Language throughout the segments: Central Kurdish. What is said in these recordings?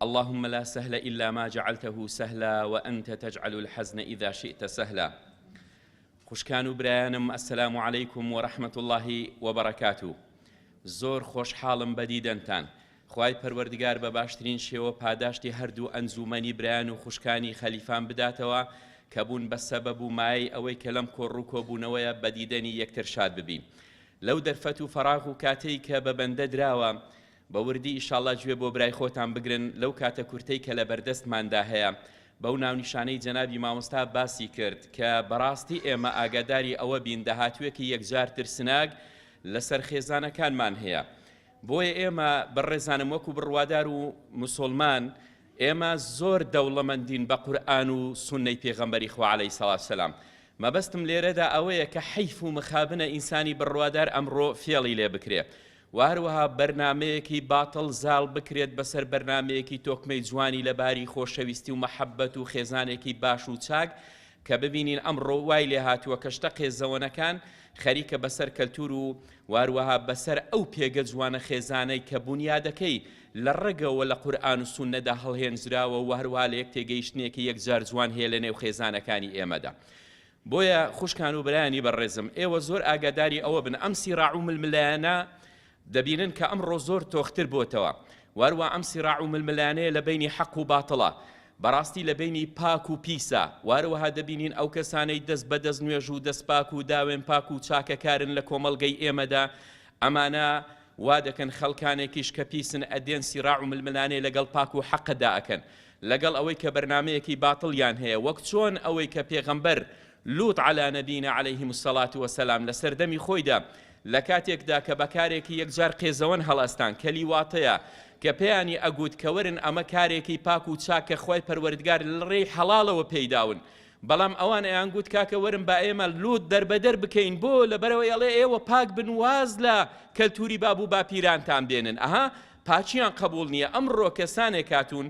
اللهم لا سهل الا ما جعلته سهلا وانت تجعل الحزن اذا شئت سهلا خوشکان و برایانم السلام علیکم و رحمت الله و برکاتو زۆر خۆشحاڵم بە دیدەنتان خوای پەروەردگار بە باشترین شێوە پاداشتی هەردوو ئەنجومەنی برایان و خوشکانی خەلیفان بداتەوە کە بوون بە سەبەب و مایەی ئەوەی کە لەم کۆڕوو کۆبوونەوەیە بە دیدەنی یەکتر شاد ببین لەو دەرفەت و فەراغ و کاتەی کە بە بەندە دراوە بە وردی ئیشاڵا گوێ بۆ برای خۆتان بگرن لەو کاتە کورتەی کە لە بەردەستماندا هەیە بەو ناونیشانەی جەنابی مامۆستا باسی کرد کە بەڕاستی ئێمە ئاگاداری ئەوە بین داهاتوێکی یەکجار ترسناک لەسەر خێزانەکانمان هەیە بۆیە ئێمە بەڕێزانم وەکو بڕوادار و مسلمان ئێمە زۆر دەوڵەمەندین بە قورآن و سنەی پێغەمبەری خوا عەلەی سەڵات سەلام مەبەستم لێرەدا ئەوەیە کە حیف و مخابنە ئینسانی بڕوادار ئەمڕۆ فێڵی لێ بکرێ و هەروەها بەرنامەیەکی باتڵ زاڵ بکرێت بەسەر بەرنامەیەکی تۆکمەی جوانی لە باری خۆشەویستی و مەحەبەت و خێزانێکی باش و چاک کە ببینین ئەمڕۆ وای لێ هاتووە کە شتە قێزەوەنەکان خەریکە بەسەر کەلتور و و هەروەها بەسەر ئەو پێگە جوانە خێزانەی کە بونیادەکەی لە ڕەگەوە لە قورئان و سوننەدا هەڵهێنجراوە و هەروەها لە یەک تێگەیشتنێکی یەکجار جوان هەیە لە نێو خێزانەکانی ئێمەدا بۆیە خوشکان و برایانی بەڕێزم ئێوە زۆر ئاگاداری ئەوە بن ئەم سیڕاع و ململانە دەبینن کە ئەمڕۆ زۆر تۆختر بۆتەوە واروا ئەم سیڕاع و ململانەیە لە بینی حەق و باتڵە بەڕاستی لە بینی پاک و پیسە وارەوەها دەبینین ئەو کەسانەی دەست بە دەست نوێژ و دەست پاک و داوێن پاک و چاکەکارن لە کۆمەڵگەی ئێمەدا ئەمانە وا دەکەن خەڵکانێکیش کە پیسن ئەدێن سیڕاع و ململانەیە لەگەڵ پاک و حەقەدا ئەکەن لەگەڵ ئەوەی کە بەرنامەیەکی باتڵیان هەیە وەک چۆن ئەوەی کە پێغەمبەر، لوط علی نبینا علیه الصلوة و السلام، لە سەردەمی خۆیدا لە کاتێکدا کە بە کارێکی یەکجار قێزەوەن هەڵئەستان کەلی واتەیە کە پێیانی ئەگووت کە وەرن ئەمە کارێکی پاک و چاک کە خوای پەروەردگار لە ڕێی حەڵاڵەوە پێی داون بەڵام ئەوان ئەیانگووت کاکە وەرن با ئێمە لووت دەربەدەر بکەین بۆ لەبەرەوەی ئەڵێ ئێوە پاک بن واز لە کەلتوری باب و باپیرانتان بێنن ئەها پاکیان قبوڵ نیە ئەمڕۆ کەسانێک هاتوون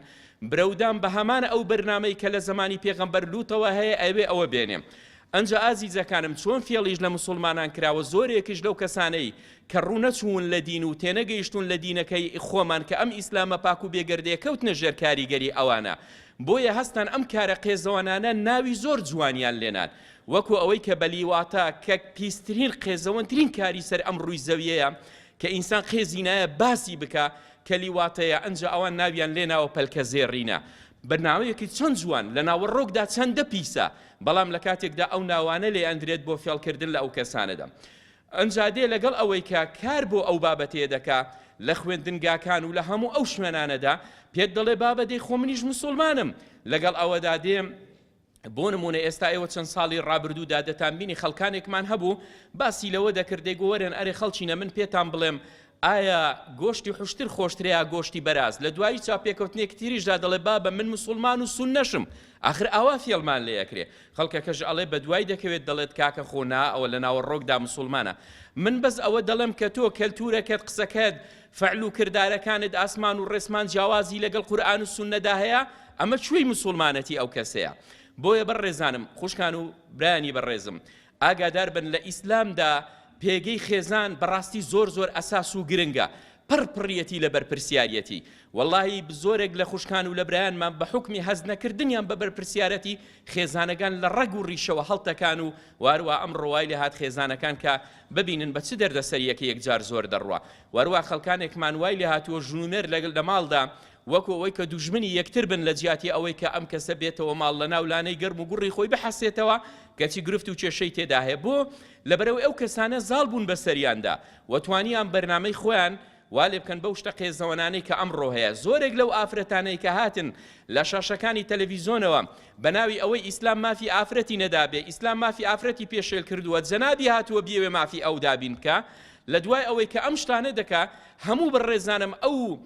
برەودان بە هەمان ئەو بەرنامەی کە لە زەمانی پێغەمبەر لوتەوە هەیە ئەوێ ئەوە بێنێ ئەنجا ئازیزەکانم چۆن فێڵیش لە مسلمانان کراوە زۆرێکش لەو کەسانەی کە ڕوونەچوون لە دین و تێنەگەیشتون لە دینەکەی خۆمان کە ئەم ئیسلامە پاک و بێگەردێ کەوتنە ژێر کاریگەری ئەوانە بۆیە هەستان ئەم کارە قێزەوانانە ناوی زۆر جوانیان لێنان وەکو ئەوەی کە بەلیواتە کە پیسترین قێزەوەنترین کاری سەر ئەم ڕووی زەویەیە کە ئینسان قێزی نایە باسی بکا کە لیواتەیە ئەنجا ئەوان ناویان لێناوە پەلکە زێڕینە بە ناوەیەکی چەند جوان لە ناوەڕۆکدا چەندە پیسە بەڵام لە کاتێکدا ئەو ناوانە لێ ئەندرێت بۆ فێڵکردن لە ئەو کەسانەدا ئەنجا دێ لەگەڵ ئەوەی کە کار بۆ ئەو بابەتێ دەکا لە خوێندنگاکان و لە هەموو ئەو شوێنانەدا پێت دەڵێ بابە دەی خۆ منیش مسوڵمانم لەگەڵ ئەوەدا دێم بۆ نموونە ئێستا ئێوە چەند ساڵی ڕابردوودا دەتانبینی خەڵکانێکمان هەبوو باسی لەوە دەکرد دەیگوەرێن ئەرێ خەڵچینە من پێتان بڵێم ئایا گۆشتی حشتر خۆشترەیە گۆشتی بەراز لە دوایی چاپێکەوتنێک تریشدا دەڵێ بابە من مسلمان و سون نەشم آخر ئاوا فێڵمان لێ ئەکرێ خەڵکەکەش ئەڵێ بە دوای دەکەوێت دەڵێت کاکە خۆنا ئەوە لە ناوەڕۆکدا مسلمانە من بەس ئەوە دەڵێم کە تۆ کەلتورەکەت قسەکەت فعل و کردارەکانت ئاسمان و ڕێسمان جیاوازی لەگەڵ قورئان و سوننەدا هەیە ئەمە کوێی موسوڵمانەتی ئەو کەسەیە بۆیە بەڕێزانم خوشکان و برانی بەڕێزم ئاگادار بن لە ئیسلامدا پێگەی خێزان بەڕاستی زۆر زۆر ئەساس و گرنگە پڕ پڕیەتی لە بەرپرسیارەتی واللهی زۆرێک لە خوشکان و لە برایانمان بە حکمی هەز نەکردنیان بە بەرپرسیارەتی خێزانەکان لە ڕەگ و ڕیشەوە هەڵتەکان و وارووا ئەم ڕوای لە هاات خێزانەکان کە ببینن بە چ دەردەسەریەک یەکجار زۆر دەڕوا و هەروا خەڵکانێکمان وای لێهاتووە ژن و مێرد لەگەل لە ماڵدا وەکو ئەوەی کە دوژمنی یەکتر بن لە جیاتی ئەوەی کە ئەم کەسە بێتەوە ماڵ لە ناو لانەی گەرم و گوڕی خۆی بحەسێتەوە کەچی گرفت و کێشەی تێدا هەیە بۆ لەبەرئەوەی ئەو کەسانە زاڵ بوون بەسەریاندا و توانیان بەرنامەی خۆیان وا لێ بکەن بەو شتە قێزەوەنانەی کە ئەمڕۆ هەیە، زۆرێک لەو ئافرەتانەی کە هاتن لە شاشەکانی تەلەڤیزۆنەوە بە ناوی ئەوەی ئیسلام مافی ئافرەتی نەدابێ، ئیسلام مافی ئافرەتی پێشێل کردووە، جەنابی هاتووە بیەوێ مافی ئەو دابین بکا، لە دوای ئەوەی کە ئەم شتانە دەکا، هەموو بەڕێزانم ئەو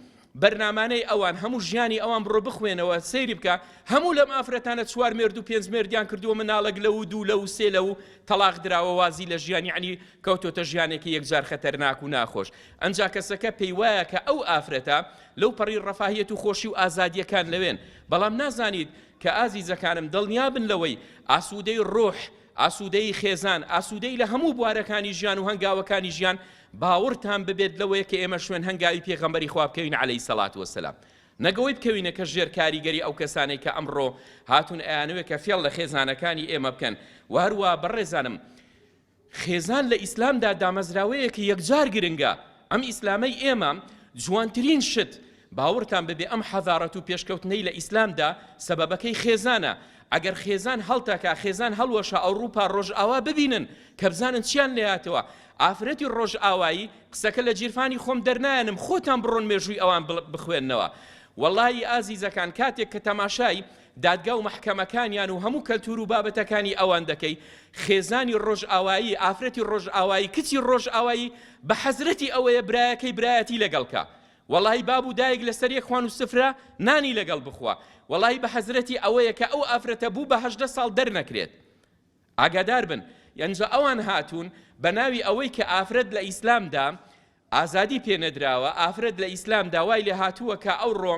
بەرنامانەی ئەوان هەموو ژیانی ئەوان بڕۆ بخوێنەوە سەیری بکە هەموو لەم ئافرەتانە چوار مێرد و پێنج مێردیان کردووە مناڵک لەو دوو لەو سێ لەو تەلاق دراوە وازی لە ژیانی عنی کەوتۆتە ژیانێکی یەکجار خەتەرناک و ناخۆش، ئەنجا کەسەکە پێی وایە کە ئەو ئافرەتە لەو پەڕی ڕەفاهیەت و خۆشی و ئازادییەکان لەوێن، بەڵام نازانیت کە ئازیزەکانم دڵنیا بن لەوەی ئاسوودەی ڕۆح، ئاسوودەی خێزان، ئاسوودەی لە هەموو بوارەکانی ژیان و هەنگاوەکانی ژیان، باوڕتان ببێت لەوەی کە ئێمە شوێن هەنگاوی پێغەمبەری خوا بکەوین عەلەیهی سەڵات وەسەلام. نەک ئەوەی بکەوینە کە ژێر کاریگەری ئەو کەسانەی کە ئەمڕۆ هاتوون ئەیانەوێت کە فێڵ لە خێزانەکانی ئێمە بکەن و هەروا بەڕێزانم خێزان لە ئیسلامدا دامەزراوەیەکی یەکجار گرنگە، ئەم ئیسلامەی ئێمە جوانترین شت، باوەڕتان بەبێ ئەم حەزارەت و پێشکەوتنەی لە ئیسلامدا سەبەبەکەی خێزانە، ئەگەر خێزان هەڵتەکا خێزان هەڵوەشا ئەوڕوپا ڕۆژئاوا ببینن کەبزانن چیان لێهاتوە ئافرەتی ڕۆژئاوایی قسەکە لە جیرفانی خۆم دەرنایەنم خۆتان بڕۆن مێژووی ئەوان بخوێنەوە وەڵایی ئازیزەکان کاتێک کە تەماشای دادگا و مەحکەمەکانیان و هەموو کەلتور و بابەتەکانی ئەوان دەکەی خێزانی ڕۆژئاوایی ئافرەتی ڕۆژئاوایی کچی ڕۆژئاوایی بە حەزرەتی ئەوەیە برایەکەی برایەتی لەگەڵکە وەڵی باب و دایک لەسەر یەک خوان و سفرە نانی لەگەڵ بخوا وەڵی بە حەزرەتی ئەوەیە کە ئەو ئافرەتە بوو بە هەژدە ساڵ دەرنەکرێت ئاگادار بن یەنجا ئەوان هاتوون بە ناوی ئەوەی کە ئافرەت لە ئیسلامدا ئازادی پێ نەدراوە، ئافرەت لە ئیسلامدا وای لێ هاتووە کە ئەوڕۆ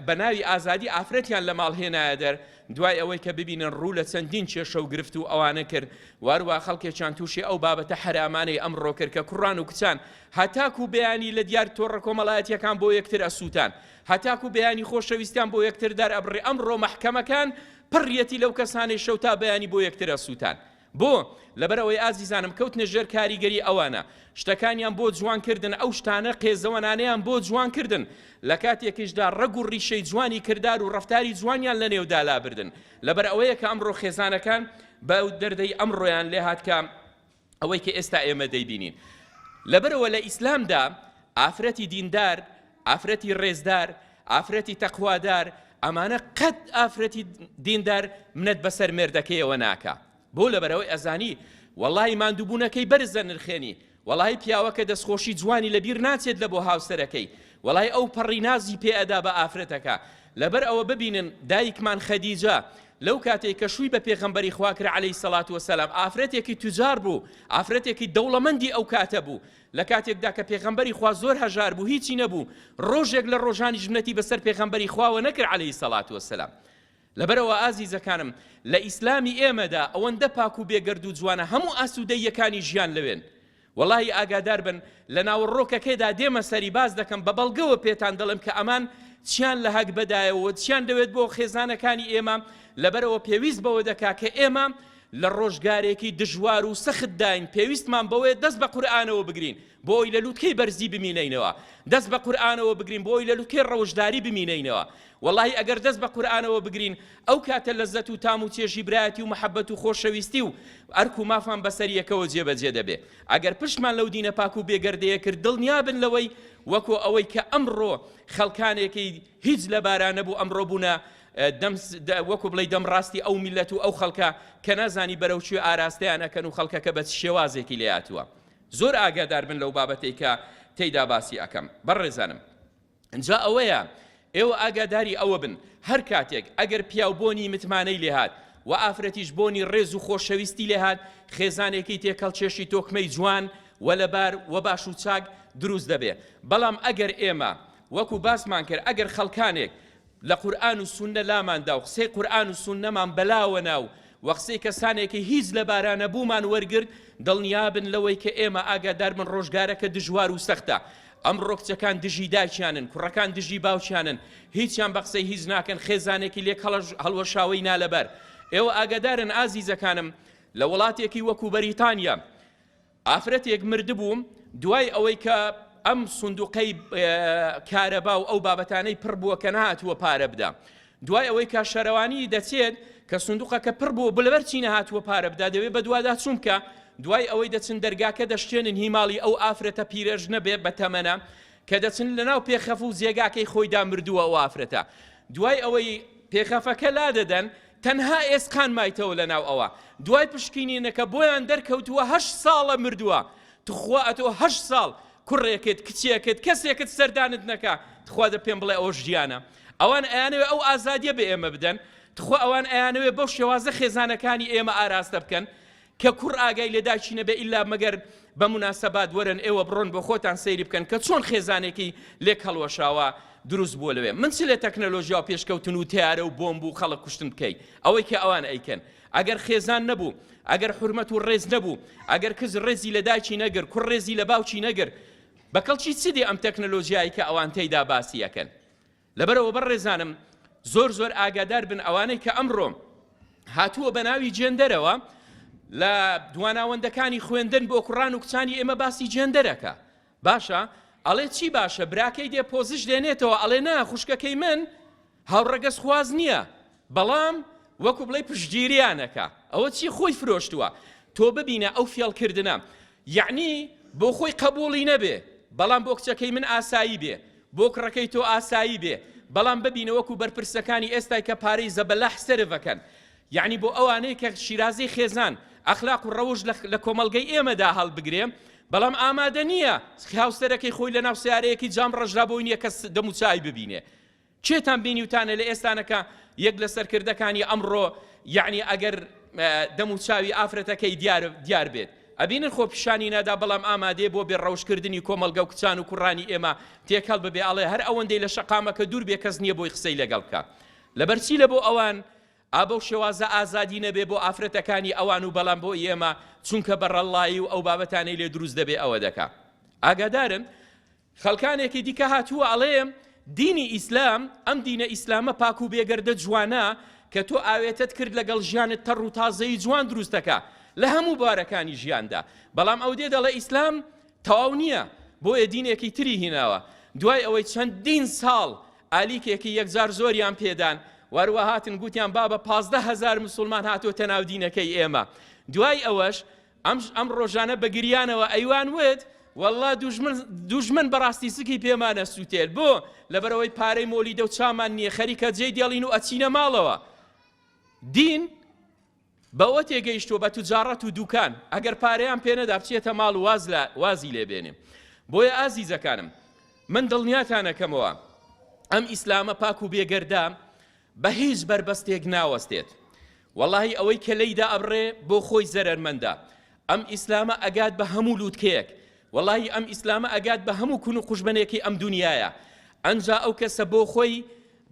بە ناوی ئازادی ئافرەتیان لە ماڵ هێنایە دەر، دوای ئەوەی کە ببینن ڕوو لە چەندین کێشە و گرفت و ئەوانە کرد و هەروە خەڵکێکیان تووشی ئەو بابەتە حەرامانەی ئەمڕۆ کرد کە کوڕان و کچان هەتاکو بەیانی لە دیار تۆڕە کۆمەڵایەتیەکان بۆ یەکتر ئەسووتان هەتاکو بەیانی خۆشەویستیان بۆ یەکتر دەرئەبڕێ ئەمڕۆ مەحکەمەکان پڕیەتی لەو کەسانەی شەو تا بەیانی بۆ یەکتر ئەسووتان بۆ؟ لەبەر ئەوەی ئازیزانم کەوتنە ژێر کاریگەری ئەوانە، شتەکانیان بۆ جوان کردن، ئەو شتانە قێزەوەنانەیان بۆ جوان کردن، لە کاتێکیشدا ڕەگ و ڕیشەی جوانی کردار و ڕەفتاری جوانیان لە نێودا لابردن. لەبەر ئەوەیە کە ئەمڕۆ خێزانەکان بەو دەردەی ئەمڕۆیان لێهات کە ئەوەی کە ئێستا ئێمە دەیبینین. لەبەرئەوە لە ئیسلامدا ئافرەتی دیندار، ئافرەتی ڕێزدار، ئافرەتی تەقوادار، ئەمانە قەت ئافرەتی دیندار منەت بەسەر مێردەکەیەوە ناکا. بۆ لەبەرەوەی ئەزانی وەڵاهی ماندووبوونەکەی بەرز دەنرخێنی، وەڵاهی پیاوەکە دەستخۆشی جوانی لەبیر ناچێت لە بۆ هاوسەرەکەی، وەڵاهی ئەو پەڕی نازی پێ ئەدا بە ئافرەتەکە. لەبەر ئەوە ببینن دایکمان خەدیجە لەو کاتەی کە شووی بە پێغەمبەری خوا کرا عەلەیهی سەڵات وەسەلام ئافرەتێکی توجار بوو، ئافرەتێکی دەوڵەمەندی ئەو کاتە بوو، لە کاتێکدا کە پێغەمبەری خوا زۆر هەژار بوو هیچی نەبوو، ڕۆژێک لە ڕۆژانیش منەتی بەسەر پێغەمبەری خواوە نەکرد علیە سەڵات وەسەلام. لەبەرئەوە ئازیزەکانم لە ئیسلامی ئێمەدا ئەوەندە پاک و بێگەرد و جوانە هەموو ئاسوودەییەکانی ژیان لەوێن. وەڵاهی ئاگادار بن لە ناوەڕۆکەکەدا دێمە سەری باس دەکەم بە بەڵگەوە پێتان دەڵێم کە ئەمان چیان لە هەگبەدایەوە چیان دەوێت بۆ خێزانەکانی ئێمە لەبەرەوە پێویست بەوە دەکا کە ئێمە لە ڕۆژگارێکی دژوار و سەختداین، پێویستمان بەوەیە دەست بە قورئانەوە بگرین بۆ ئەوەی لە لووتکەی بەرزی بمینینەوە، دەست بە قورئانەوە بگرین بۆ ئەوەی لە لووتکەی ڕەوشداری بمینینەوە. وەڵاهی ئەگەر دەست بە قورئانەوە بگرین، ئەو کاتە لەززەت و تام و چێژی برایەتی و مەحەببەت و خۆشەویستی و ئەرک و مافان بەسەر یەکەوە جێبەجێ دەبێ. ئەگەر پشتمان لەو دینە پاک و بێگەردەیە کرد، دڵنیا بن لەوەی وەکۆ ئەوەی کە ئەمڕۆ خەڵکانێکی هیچ لەبارا نەبوو ئەمڕۆ بوونە دەم وەکو بڵێ دەم ڕاستی ئەو میلەت و ئەو خەڵکە کە نازانی بەرەو چێ ئاراستەیان ئەکەن و خەڵکەکە بە شێوازێکی لێاتوە زۆر ئاگادار بن لەو بابەتەی کە تێیدا باسی ئەەکەم بەڕێزانم ئەجا ئەوەیە ئێوە ئاگاداری ئەوە بن هەر کاتێک ئەگەر پیاو بۆنی متمانەی لێهات و ئافرەتیش بۆنی ڕێز و خۆشەویستی لێهات خێزانێکی تێکەڵ چێشی تۆکمەی جوان و لەبار و باش و چاک دروست دەبێ بەڵام ئەگەر ئێمە وەکو باسمان کرد ئەگەر خەڵکانێک لە قورئان و سوننە لاماندا و قسەی قورئان و سوننەمان بەلاوە نا و وە قسەی کەسانێک کە هیچ لەبارانەبوومان وەرگرت، دڵنیابن لەوەی کە ئێمە ئاگاداربن ڕۆژگارەکە دژوار و سەختە، ئەمڕۆ کچەکان دژی دایکیانن، کوڕەکان دژی باوکیانن، هیچیان بە قسەی هیچ ناکەن، خێزانێکی لێک هەڵوەشاوەی نالەبار. ئێوە ئاگادارن ئازیزەکانم لە وڵاتێکی وەکو بەریتانیا، ئافرەتێک مردبوو دوای ئەوەی کە ئەم سندوقەی کارەبا و ئەو بابەتانەی پڕ بووە کە نهاتووە پارە بدا دوای ئەوەی کە شەرەوانی دەچێت کە سندوقەکە پڕ بوو بلەبەر چی نهاتووە پارە بدا دەوێت بە دوادا چونکە دوای ئەوەی دەچن دەرگاکە دەشتێنن هیماڵی ئەو ئافرەتە پیرەژ نەبێ بە تەمەە کە دەچن لەناو پێخەف و جێگاکەی خۆیدا مردووە ئەو ئافرەتە دوای ئەوەی پێخەفەکە لا دەدەن تەنها ئێسقان مایتەوە لەناو ئەوە دوای پشکینینەکە بۆیان دەرکەوتووە هەشت ساڵە مردووە تخوا ئەتۆ هەشت ساڵ کوڕێکت کچێکت کەسێکت سەردانت نەکا تخوا دە پێم بڵێ ئەوە ژیانە ئەوان ئەیانەوێ ئەو ئازادیە بە ئێمە بدەن تخوا ئەوان ئەیانەوێ بەو شێوازە خێزانەکانی ئێمە ئاراستە بکەن کە کوڕ ئاگای لە داکی نەبێ ئیلا مەگەر بە موناسەبات وەرن ئێوە بڕۆن بۆ خۆتان سەیری بکەن کە چۆن خێزانێکی لێک هەڵوەشاوە دروست بووە لەوێ من چ لە تەکنەلۆژیا و پێشکەوتن و تیارە و بۆمب و خەڵک کوشتن بکەی ئەوەی کە ئەوان ئەیکەن ئەگەر خێزان نەبوو ئەگەر حرمەت و ڕێز نەبوو ئەگەر کز ڕێزی لە داکی نەگر کوڕ ڕێزی لە باوکی نەگر بەکەڵکی چ دێ ئەم تەکنەلۆژیایی کە ئەوان تێیدا باسی یەکەن لەبەرئەوە بەڕێزانم زۆر زۆر ئاگادار بن ئەوانەی کە ئەمڕۆ هاتووە بە ناوی جێندەرەوە لە دواناوەندەکانی خوێندن بۆ کوڕان و کچانی ئێمە باسی جێندەرەکە باشە ئەڵێ چی باشە براکەی دێ پۆزش دێنێتەوە ئەڵێ نا خوشکەکەی من هاوڕەگەز خواز نییە بەڵام وەکو بڵێی پشتگیریان ئەکا ئەوە چی خۆی فرۆشتووە تۆ ببینە ئەو فێڵ کردنە یعنی بۆ خۆی قبولی نەبێ بەڵام بۆ کچەکەی من ئاسایی بێ بۆ کڕەکەی تۆ ئاسایی بێ بەڵام ببینە وەکو بەرپرسەکانی ئێستای کە پارەی زەبەلاح سرفەکەن یعنی بۆ ئەوانەی کە شیرازی خێزان ئەخلاق و ڕەوش لە کۆمەلگەی ئێمەدا هەڵبگرێ بەڵام ئامادە نییە هاوسەرەکەی خۆی لە ناو سیارەیەکی جام ڕژرا بۆی نییە کە دەموچوی ببینێ کێتان بینیوتانە لە ئێستانەکە یەک لە سەرکردەکانی ئەمڕۆ یعنی ئەگەر دەم و چاوی ئافرەتەکەی دیار دیار بێت ئەبینن خۆ پیشانی نادا بەڵام ئامادەێ بۆ بێ ڕەوشکردنی کۆمەلگە و کچان و کوڕانی ئێمە تێکەڵ ببێ ئەڵێ هەر ئەوەندەی لە شقامەکە دوور بێ کەس نییە بۆی قسەی لەگەڵ بکە لەبەرچی لە بۆ ئەوان ئابە و شێوازە ئازادی نەبێ بۆ ئافرەتەکانی ئەوان و بەڵام بۆ ئێمە چونکە بەڕەڵایی و ئەو بابەتانەی لێ دروست دەبێ ئەوە دەکا ئاگادارن خەڵکانێکی دیکە هاتووە ئەڵێ دینی ئیسلام ئەم دینە ئیسلامە پاک و بێگەردە جوانە کە تۆ ئاوێتەت کرد لەگەڵ ژیانت تەڕ و تازەی جوان دروستەکە لە هەموو بارەکانی ژیاندا بەڵام ئەو دێ دەڵێ ئیسلام تەواو نییە بۆیە دینێکی تری هیناوە دوای ئەوەی چەندین ساڵ ئالیکێکی یەکجار زۆریان پێدان وەروە هاتن گوتیان بابە پازدە هزار مسلمان هاتۆتە ناو دینەکەی ئێمە دوای ئەوەش ئەمش ئەم ڕۆژانە بە گریانەوە ئەیوان وت، وەڵڵا دوژمن دوژمن بەڕاستی سکی پێمان ئەسووتێت، بۆ؟ لەبەرئەوەی پارەی مۆلیدە و چامان نییە، خەریکە جێی دێڵین و ئەچینە ماڵەوە. دین بەوە تێگەیشتووە بە توجاڕەت و دووکان، ئەگەر پارەیان پێ نەدا بچێتە ماڵ و واز لە وازی لێ بێنێ. بۆیە ئازیزەکانم، من دڵنیاتان ئەکەمەوە ئەم ئیسلامە پاک و بێگەردە، بە هیچ بەربەستێک ناوەستێت وەڵاهی ئەوەی کە لێی دا ئەبڕێ بۆ خۆی زەرەرمەندە ئەم ئیسلامە ئەگات بە هەموو لووتکەیەک وەڵاهی ئەم ئیسلامە ئەگات بە هەموو کون و قوژبنێکی ئەم دنیایە ئەنجا ئەو کەسە بۆ خۆی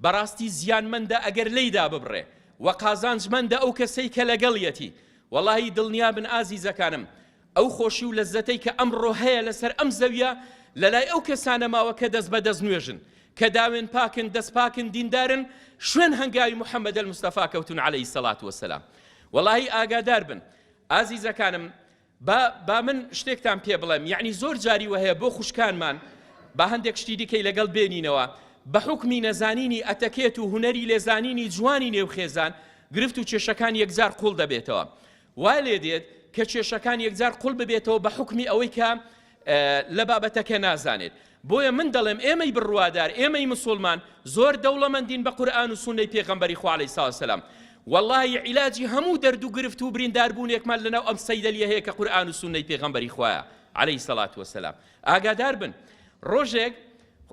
بەڕاستی زیانمەندە ئەگەر لێی دا ببڕێ و قازانجمەندە ئەو کەسەی کە لەگەڵیەتی وەڵاهی دڵنیا بن ئازیزەکانم ئەو خۆشی و لەززەتەی کە ئەمڕۆ هەیە لەسەر ئەم زەویە لەلای ئەو کەسانە ماوە کە دەست بەدەست نوێژن، کە داوێن پاکن، دەست پاکن، دیندارن، شوێن هەنگاوی محمدە مستەفا کەوتون علیە سەڵات وسلام. وەڵاهی ئاگادار بن ئازیزەکانم با با من شتێکتان پێ بڵێم یعنی زۆر جاری وهەیە بۆ خوشکانمان با هەندێک شتی دیکەی لەگەڵ بێنینەوە بە حکمی نەزانینی ئەتەکێت و هوەری لێزانینی جوانی نێو خێزان گرفت و کێشەکان یەکجار قوڵ دەبێتەوە وای لێ دێت کە کێشەکان یەکجار قوڵ ببێتەوە بە حوکمی ئەوەی کە لە بابەتەکە نازانێت بۆیە من دەڵێم ئێمەی بڕوادار ئێمەی مسلمان زۆر دەوڵەمەندین بە قورآن و سنەی پێغەمبەری خوا علیه السلام واللهی عیلاجی هەموو دەرد و گرفت و برینداربوونێکمان لەناو ئەم سەیدەلیە هەیە کە قورآن و سنەی پێغەمبەری خوایە علیه سەلات وسلام ئاگادار بن ڕۆژێک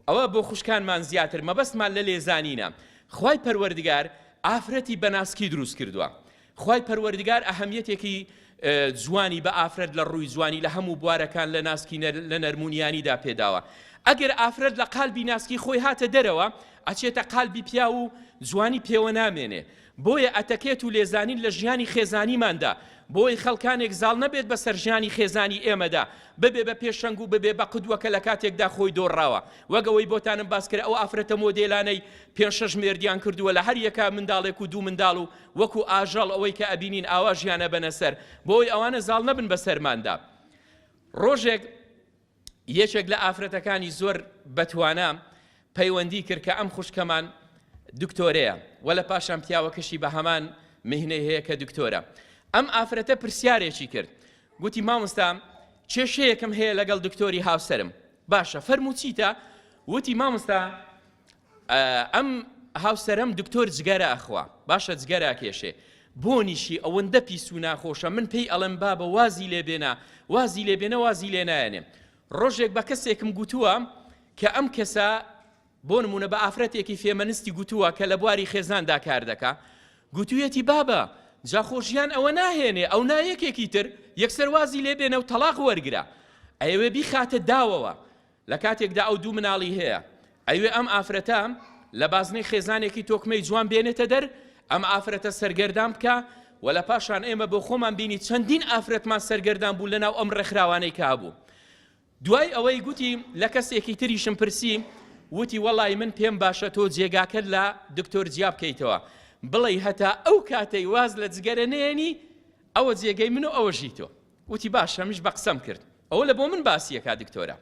ئەوە بۆ خوشکانمان زیاتر مەبەستمان لە لێزانینە خوای پەروەردگار ئافرەتی بەناسکی دروست کردووە خوای پەروەردگار ئەهەمیەتێکی جوانی بە ئافرەت لە ڕووی جوانی لە هەموو بوارەکان لە ناسکی لە نەرمونیانیدا پێداوە ئەگەر ئافرەت لە قالبی ناسکی خۆی هاتە دەرەوە ئەچێتە قالبی پیا و جوانی پێوە نامێنێ بۆیە ئەتەکێت و لێزانین لە ژیانی خێزانیماندا بۆی خەڵکانێک زاڵ نەبێت بە سەرژانی خێزانی ئێمەدا ببێ بە پێشەنگ و ببێ بە قودوەکە لە کاتێکدا خۆی دۆڕاوە وەگەوەی بۆتانم باسکرە ئەو ئافرەتە مۆدێلانەی پێنج شەش مێردیان کردووە لە هەر یەکە منداڵێک و دوو منداڵ و وەکو ئاژەڵ ئەوەی کە ئەبینین ئاوا ژیان ئەبەنە سەر بۆ ئەوەی ئەوانە زاڵ نەبن بە سەرماندا ڕۆژێک یەکێک لە ئافرەتەکانی زۆر بەتوانە پەیوەندی کرد کە ئەم خوشکەمان دکتۆرەیە و لە پاشان پیاوەکەشی بە هەمان مهنەی هەیە کە دکتۆرە ئەم ئافرەتە پرسیارێکی کرد گوتی مامۆستا کێشەیەکم هەیە لەگەڵ دکتۆری هاوسرم باشە فەرموچیتە وتی مامۆستا ئەم هاوسەرەم دکتۆر جگەرە ئەخوا باشە جگەرە ئەکێشێ بۆنیشی ئەوەندە پیس و ناخۆشە من پێی ئەڵێم بابە وازی لێبێنە وازی لێبێنە وازی لێ نایەنێم ڕۆژێک بە کەسێکم گوتووە کە ئەم کەسە بۆ نمونە بە ئافرەتێکی فێمەنستی گوتووە کە لە بواری خێزاندا کار دەکا گوتوویەتی بابە جاخۆشیان ئەوە ناهێنێ ئەو نایەکێکی تر یەکسەر وازی لێبێنە و تەلاق وەرگرە ئەوێ بیخاتە داوەوە لە کاتێکدا ئەو دوو مناڵی هەیە، ئەیوێ ئەم ئافرەتە لە بازنەی خێزانێکی تۆکمەی جوان بێنێتە دەر، ئەم ئافرەتە سەرگەردان بکا و لە پاشان ئێمە بۆ خۆمان بینی چەندین ئافرەتمان سەرگەردان بوو لە ناو ئەم ڕێکخراوانەی کە هەبوو. دوای ئەوەی گوتی لە کەسێکی تریشم پرسی وتی وەڵای من پێم باشە تۆ جێگاکەت لە دکتۆر جیا بکەیتەوە بڵێی هەتا ئەو کاتەی واز لە جگەرە نەیەنی ئەوە جێگەی من و ئەوەشی تۆ. گوتی باشە منیش بە قسەم کرد ئەوە لە بۆ من باسیەکە دکتۆرە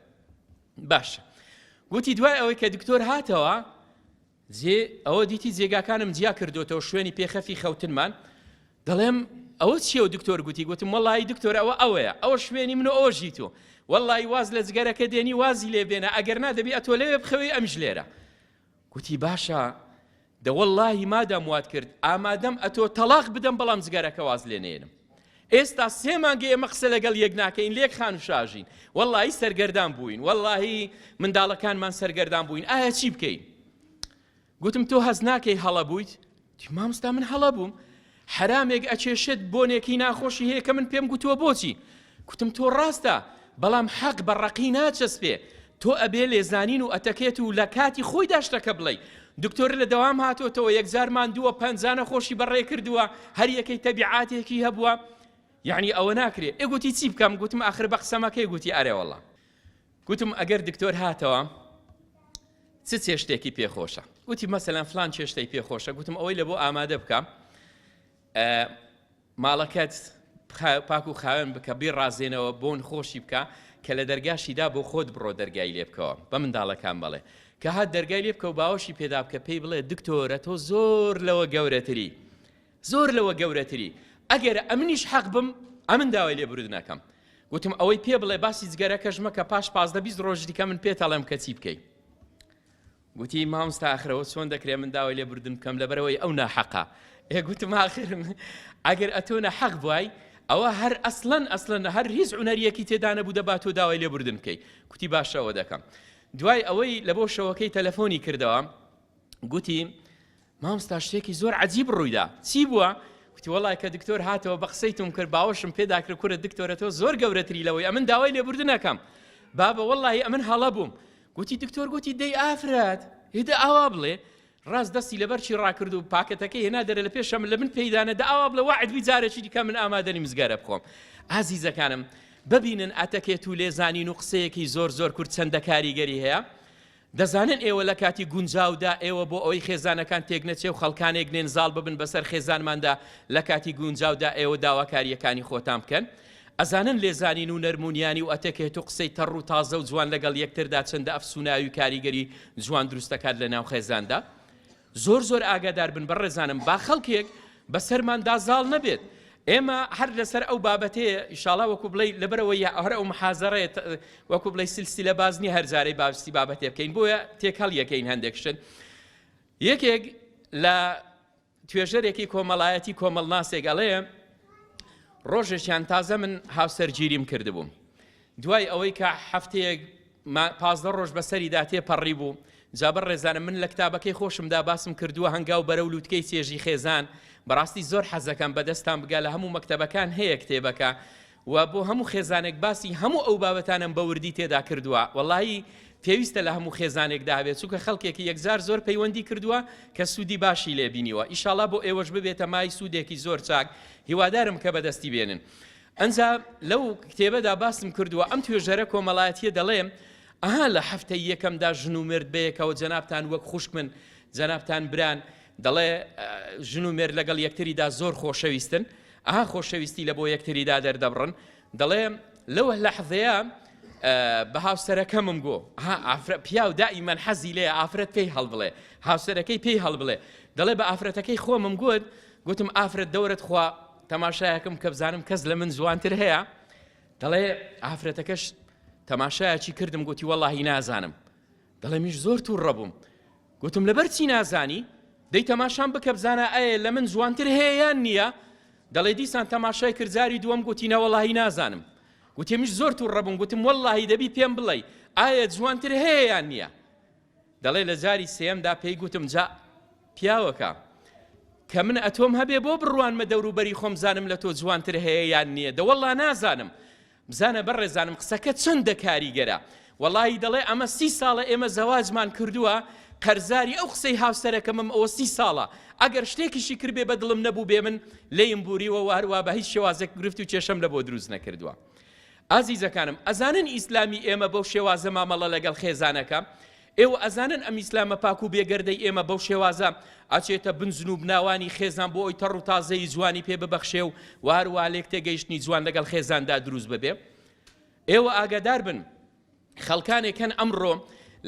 باشە گوتی دوای ئەوەی کە دکتۆر هاتەوە جێ ئەوە دیتی جێگاکانم جیا کردوێتەوە شوێنی پێخەفی خەوتنمان دەڵێم ئەوە چیە و دکتۆر گوتی گوتم وڵی دکتۆر ئەوە ئەوەیە ئەوە شوێنی من و ئەوە ژیت و وەڵی واز لە جگەرەکە دێنی وازی لێ بێنە ئەگەر نادەبی ئەتۆ لەوێ بخەوی ئەم ژلێرە گوتی باشە دەوەڵاهی مادام وات کرد ئامادەم ئەتۆ تەڵاق بدەم بەڵام جگەرەکە واز لێ نێنم ئێستا سێ مانگە ئێمە قسە لەگەڵ یەک ناکەین لێک خان و شاژین وەڵی سەرگەردان بووین وەڵی منداڵەکانمان سەرگەردان بووین ئایا چی بکەین گوتم تۆ هەز ناکەی هەڵە بوویت تی ماموستا من هەڵە بووم حەرامێک ئەچێشێت بۆنێکی ناخۆشی هەیە کە من پێم گوتووە بۆچی کوتم تۆ ڕاستە بەڵام حەق بە ڕقی ناچەسپێ تۆ ئەبێ لێزانین و ئەتەکێت و لە کاتی خۆی داشتەکە بڵێ دکتۆر لە دەوام هاتۆتەوە یەکجارمان دووە پەنجانە خۆشی بەڕێ کردووە هەر یەکەی تەبیعاتێکی هەبووە یعنی ئەوە ناکرێ ئەگوتی چی بکەم گوتم ئاخر بە قسەمەکەی گوتی ئارێوەڵام گوتم ئەگەر دکتۆر هاتەوە چ چێشتێکی پێخۆشە گوتی مەسەلەن فلان چێشتەی پێخۆشە گوتم ئەوەی لە بۆ ئامادە بکە ماڵەکەت پاک و خاوێن بکە بێ ڕازێنەوە بۆن خۆشی بکە کە لە دەرگاشیدا بۆ خۆت بڕۆ دەرگای لێ بکەوە بە منداڵەکان بڵێ کە هات دەرگای لێ بکە و باوەشی پێدا بکە پێی بڵێ دکتۆرە تۆ زۆر لەوە گەورەتری زۆر لەوە گەورەتری ئەگەر ئەمنیش حەق بم ئەمن داوای لێ برود ناکەم گوتم ئەوەی پێ بڵێ باسی جگەرەکەش مەکە پاش پازدە بیست ڕۆژ دیکە من پێت ئەڵێم کە چی بکەی گوتی مامستا ئاخرەوە چۆن دەکرێ من داوای لێ بردن بکەم لەبەرەوەی ئەو ناحەقا ئێ گوتم ئاخر ئەگەر ئەتۆ نەحەق بوای ئەوە هەر ئەسلەن ئەسلەن هەر هیچ عونەریەکی تێدانە بوو دەبات تۆ داوای لێ بردن بکەی کوتی باشەوە دەکەم دوای ئەوەی لە بۆ شەوەکەی تەلەفۆنی کردەوە گوتی ماموستا شتێکی زۆر عەجیب ڕوویدا چی بووە؟ گوتی وەڵای کە دکتۆر هاتەوە بە قسەی توم کرد باوەشم پێدا کرد کورە دکتۆرە تۆ زۆر گەورەتری لەوەی ئەمن داوای لێبوردنەکەم بابە وەڵی ئەمن هەڵە بووم گوتی دکتۆر گوتی دەی ئافرەت هێدە ئاوا بڵێ ڕاست دەستی لەبەرچی ڕاکرد و پاکەتەکەی هێنا دەرە لە پێشەم لە من پێدانە دە ئاوا بڵە وعدبی جارێکی دیکە من ئامادەنی مزگەرە بخۆم ئازیزەکانم ببینن ئەتەکێت و لێزانین و قسەیەکی زۆر زۆر کورد چەندە کاریگەری هەیە دەزانن ئێوە لە کاتی گونجاودا ئێوە بۆ ئەوەی خێزانەکان تێکنەچێ و خەڵکانێک نێن زاڵ ببن بەسەر خێزانماندا لە کاتی گونجاودا ئێوە داواکارییەکانی خۆتان بکەن ئەزانن لێزانین و نەرمونیانی و ئەتەکێت و قسەی تەڕ و تازە و جوان لەگەڵ یەکتردا چەندە ئەفسوناوی و کاریگەری جوان دروستەکات لەناو خێزاندا زۆر زۆر ئاگادار بن بەڕێزانم با خەڵکێک بەسەرمان دا زاڵ نەبێت ئێمە هەر لەسەر ئەو بابەتەیە ئیشاڵا وەکو بڵێ لەبەرەوە هەر ئەو محازەڕێت وەکو بڵێ سلسلە بازنی هەرزارەی باستی بابەتێ بکەین بۆیە تێکەڵ یەکەین هەندێک شت یەکێک لە توێژەرێکی کۆمەڵایەتی کۆمەڵناسێک ئەڵێ ڕۆژێکیان تازە من هاوسەرگیریم کردبووم دوای ئەوەی کە هەفتەیەک ما پازدە ڕۆژ بەسەریدا تێ پەڕیبوو، جا بە ڕێزانم من لە کتابەکەی خۆشمدا باسم کردووە هەنگاو بەرەو لووتکەی چێژی خێزان، بەڕاستی زۆر حەزەکەم بە دەستتان بگا لە هەموو مەکتەبەکان هەیە کتێبەکە و بۆ هەموو خێزانێک باسی هەموو ئەو بابەتانم بە وردی تێدا کردووە وەڵایی پێویستە لە هەموو خێزانێکدا هەبێت چونکە خەڵکێکی یەکجار زۆر پەیوەندی کردووە کە سوودی باشی لێبینیوە ئیشاڵا بۆ ئێوەش ببێتە مای سوودێکی زۆر چاک هیوادارم کە بەدەستی بێنن ئنجا لەو کتێبەدا باسم کردووە ئەم توێژەرە کۆمەڵایەتیە دەڵێ ئەها لە هەفتەی یەکەمدا ژن و مرد بەیەکەوە جەنابان وەک خوشک من جەنابان بران دەڵێ ژن و مێر لەگەڵ یەکتریدا زۆر خۆشەویستن ئەها خۆشەویستی لە بۆ یەکتریدا دەردەبڕن دەڵێ لەوە لە حەزەیە بە هاوسەرەکەمم گۆ پیاو دائیمەن حەزی لێ ئافرەت پێی هەڵبڵێ هاوسەرەکەی پێی هەڵبڵێ دەڵێ بە ئافرەتەکەی خۆمم گوت گوتم ئافرەت دەورەت خوا تەماشایەکم کە بزانم کەس لە من جوانتر هەیە دەڵێ ئافرەتەکەش تەماشایەکی کردم گوتی وەڵی نازانم دەڵێ میش زۆر توو ڕەبووم گوتم لەبەر چی نازانی دەی تەماشام بکە بزانە ئایا لە من جوانتر هەیە یان نییە دەڵێ دیسان تەماشای کردزاری دووەم گوتی نەوەڵی نازانم گوتێمیش زۆر توو ڕەبوون گوتم واللهی دەبی پێم بڵێ ئایا جوانتر هەیە یان نییە دەڵێ لە جاری سێیەمدا پێی گوتم جا پیاوەکە کە من ئەتۆم هەبێ بۆ بڕوانمە دەوروبەری خۆم بزانم لە تۆ جوانتر هەیە یان نییە دەوەڵا نازانم بزانە بەڕێزانم قسەکە چەندە کاریگەرە وەڵی دەڵێ ئەمە سی ساڵە ئێمە زەواجمان کردووە قەرزاری ئەو قسەی هاوسەرەکەمم ئەوە سی ساڵە ئەگەر شتێکیشی کردێ بە دڵم نەبوو بێ من لێم بووریوە واروا بە هیچ شێوازێک گرفت و کێشەم لە بۆ دروست نەکردووە ئازیزەکانم ئەزانن ئیسلامی ئێمە بەو شێوازە مامەڵە لەگەڵ خێزانەکە؟ ئێوە ئەزانن ئەم ئیسلامە پاک و بێگەردەی ئێمە بەو شێوازە ئەچێتە بن زنوبناوانی خێزان بۆ ئەوی تەڕ و تازەیی جوانی پێ ببەخشێ و و هەروەها لێکتێگەیشتنی جوان لەگەڵ خێزاندا دروست ببێ؟ ئێوە ئاگادار بن خەڵکانێک هەن ئەمڕۆ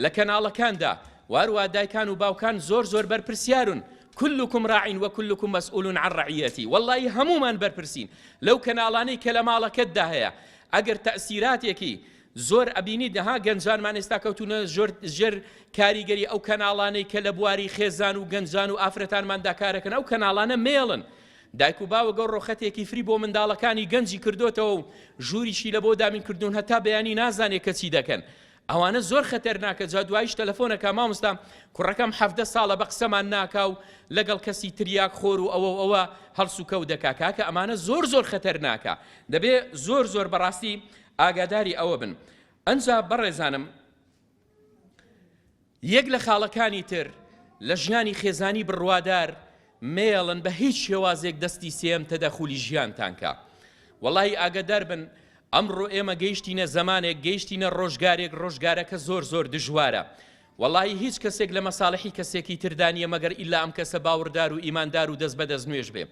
لە کەناڵەکاندا واروا دایکان و باوکان زۆر زۆر بەرپرسیارون كلكم راع وكلكم مسؤول عن رعيتي والله هەمومان بەرپرسین لەو کەناڵانەی کە لە ماڵەکەتدا هەیە ئەگەر تەسیراتێکی زۆر ئەبینی دەها گەنجانمان ئێستا کەوتونە زۆر ژێر کاریگەری ئەو کەناڵانەی کە لە بواری خێزان و گەنجان و ئافرەتانماندا کارەکەن ئەو کەناڵانە مێڵن دایک و باوک گەورە و خەتێکی فری بۆ منداڵەکانی گەنجی کردۆتەوە و ژووریشی لە بۆ دابین کردوون هەتا بەیانی نازانێ کە چی دەکەن ئەوانە زۆر خەتەرناکە جا دوایش تەلەفۆنەکە مامۆستا کوڕەکەم حەڤدە ساڵە بە قسەمان ناکا و لەگەڵ کەسی تریاک خۆر و ئەوە و ئەوە هەڵس و کەوت دەکا کاکە ئەمانە زۆر زۆر خەتەرناکە دەبێ زۆر زۆر بەڕاستی ئاگاداری ئەوە بن ئەنجا بەڕێزانم یەک لە خاڵەکانی تر لە ژیانی خێزانی بڕوادار مەیەڵن بە هیچ شێوازێک دەستی سێم تەدەخولی ژیانتان کا. وەڵاهی ئاگەدار بن ئەمڕۆ ئێمە گەیشتینە زەمانێک گەیشتینە ڕۆژگارێک ڕۆژگارەکە زۆر زۆر دژوارە. وەڵاهی هیچ کەسێک لە مەساڵحی کەسێکی تردا نییە مەگەر ئیلا ئەم کەسە باوڕدار و ئیماندار و دەست بەدەست نوێژ بێ.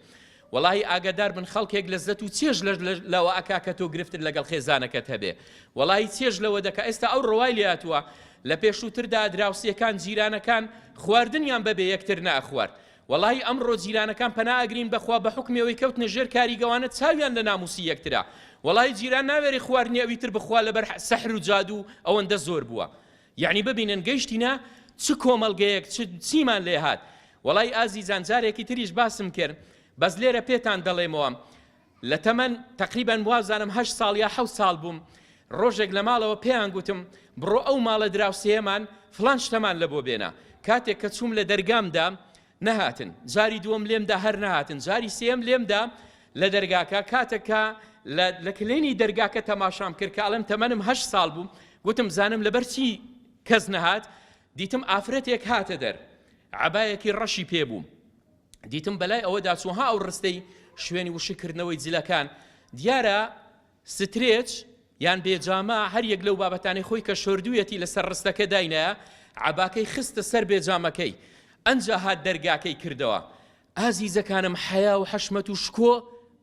وەڵاهی ئاگەدار بن خەڵکێک لەزەت و چێژ لەوە ئەکا کە تۆ گرفتت لەگەڵ خێزانەکەت هەبێ وەڵاهی چێژ لەوە دەکا ئێستا ئەو ڕەوای لێ هاتووە لە پێشووتردا دراوسێکان جیرانەکان خواردنیان بەبێ یەکتر ناخوارد وەڵاهی ئەمڕۆ جیرانەکان پەنا ئەگرین بەخوا بە حوکمی ئەوەی کەوتنە ژێر کاری گەوانە چاویان لە ناموسی یەکترە وەڵاهی جیران ناوێری خواردنی ئەوی تر بخوا لەبەر سەحر و جادوو ئەوەندە زۆر بووە یەعنی ببینن گەیشتینە چ کۆمەڵگەیەک چ چیمان لێ هات وەڵای ئازیزان جارێکی تریش باسم کرد بەس لێرە پێتان دەڵێمەوە لە تەمەن تقریبا وازانم هەشت ساڵ یا حەوت ساڵ بووم ڕۆژێک لە ماڵەوە پێیان گوتم بڕۆ ئەو ماڵە دراوسێمان فلان شتەمان لە بۆ بێنە کاتێک کە چووم لە دەرگامدا نەهاتن جاری دووەم لێم دا هەر نەهاتن جاری سێم لێم دا لە دەرگاکە کاتەکە لە کلێنی دەرگاکە تەماشام کرد کە ئەڵم تەمەنم هەشت ساڵ بوو گوتم زانم لەبەرچی کەس نەهات دیتم ئافرەتێک هاتە دەر عبایەکی ڕەشی پێ بوو دیتم بەلای ئەوەدا چوها ئەو ڕستەی شوێنی وشکردنەوەی جلەکان دیارە سترێچ یان بێجامە، هەر یەک لەو بابەتانەی خۆی کە شۆردوویەتی لەسەر ڕستەکە داینایە، عەباکەی خستە سەر بێجامەکەی، ئەنجا هات دەرگاکەی کردەوە. ئازیزەکانم حەیا و حەشمەت و شکۆ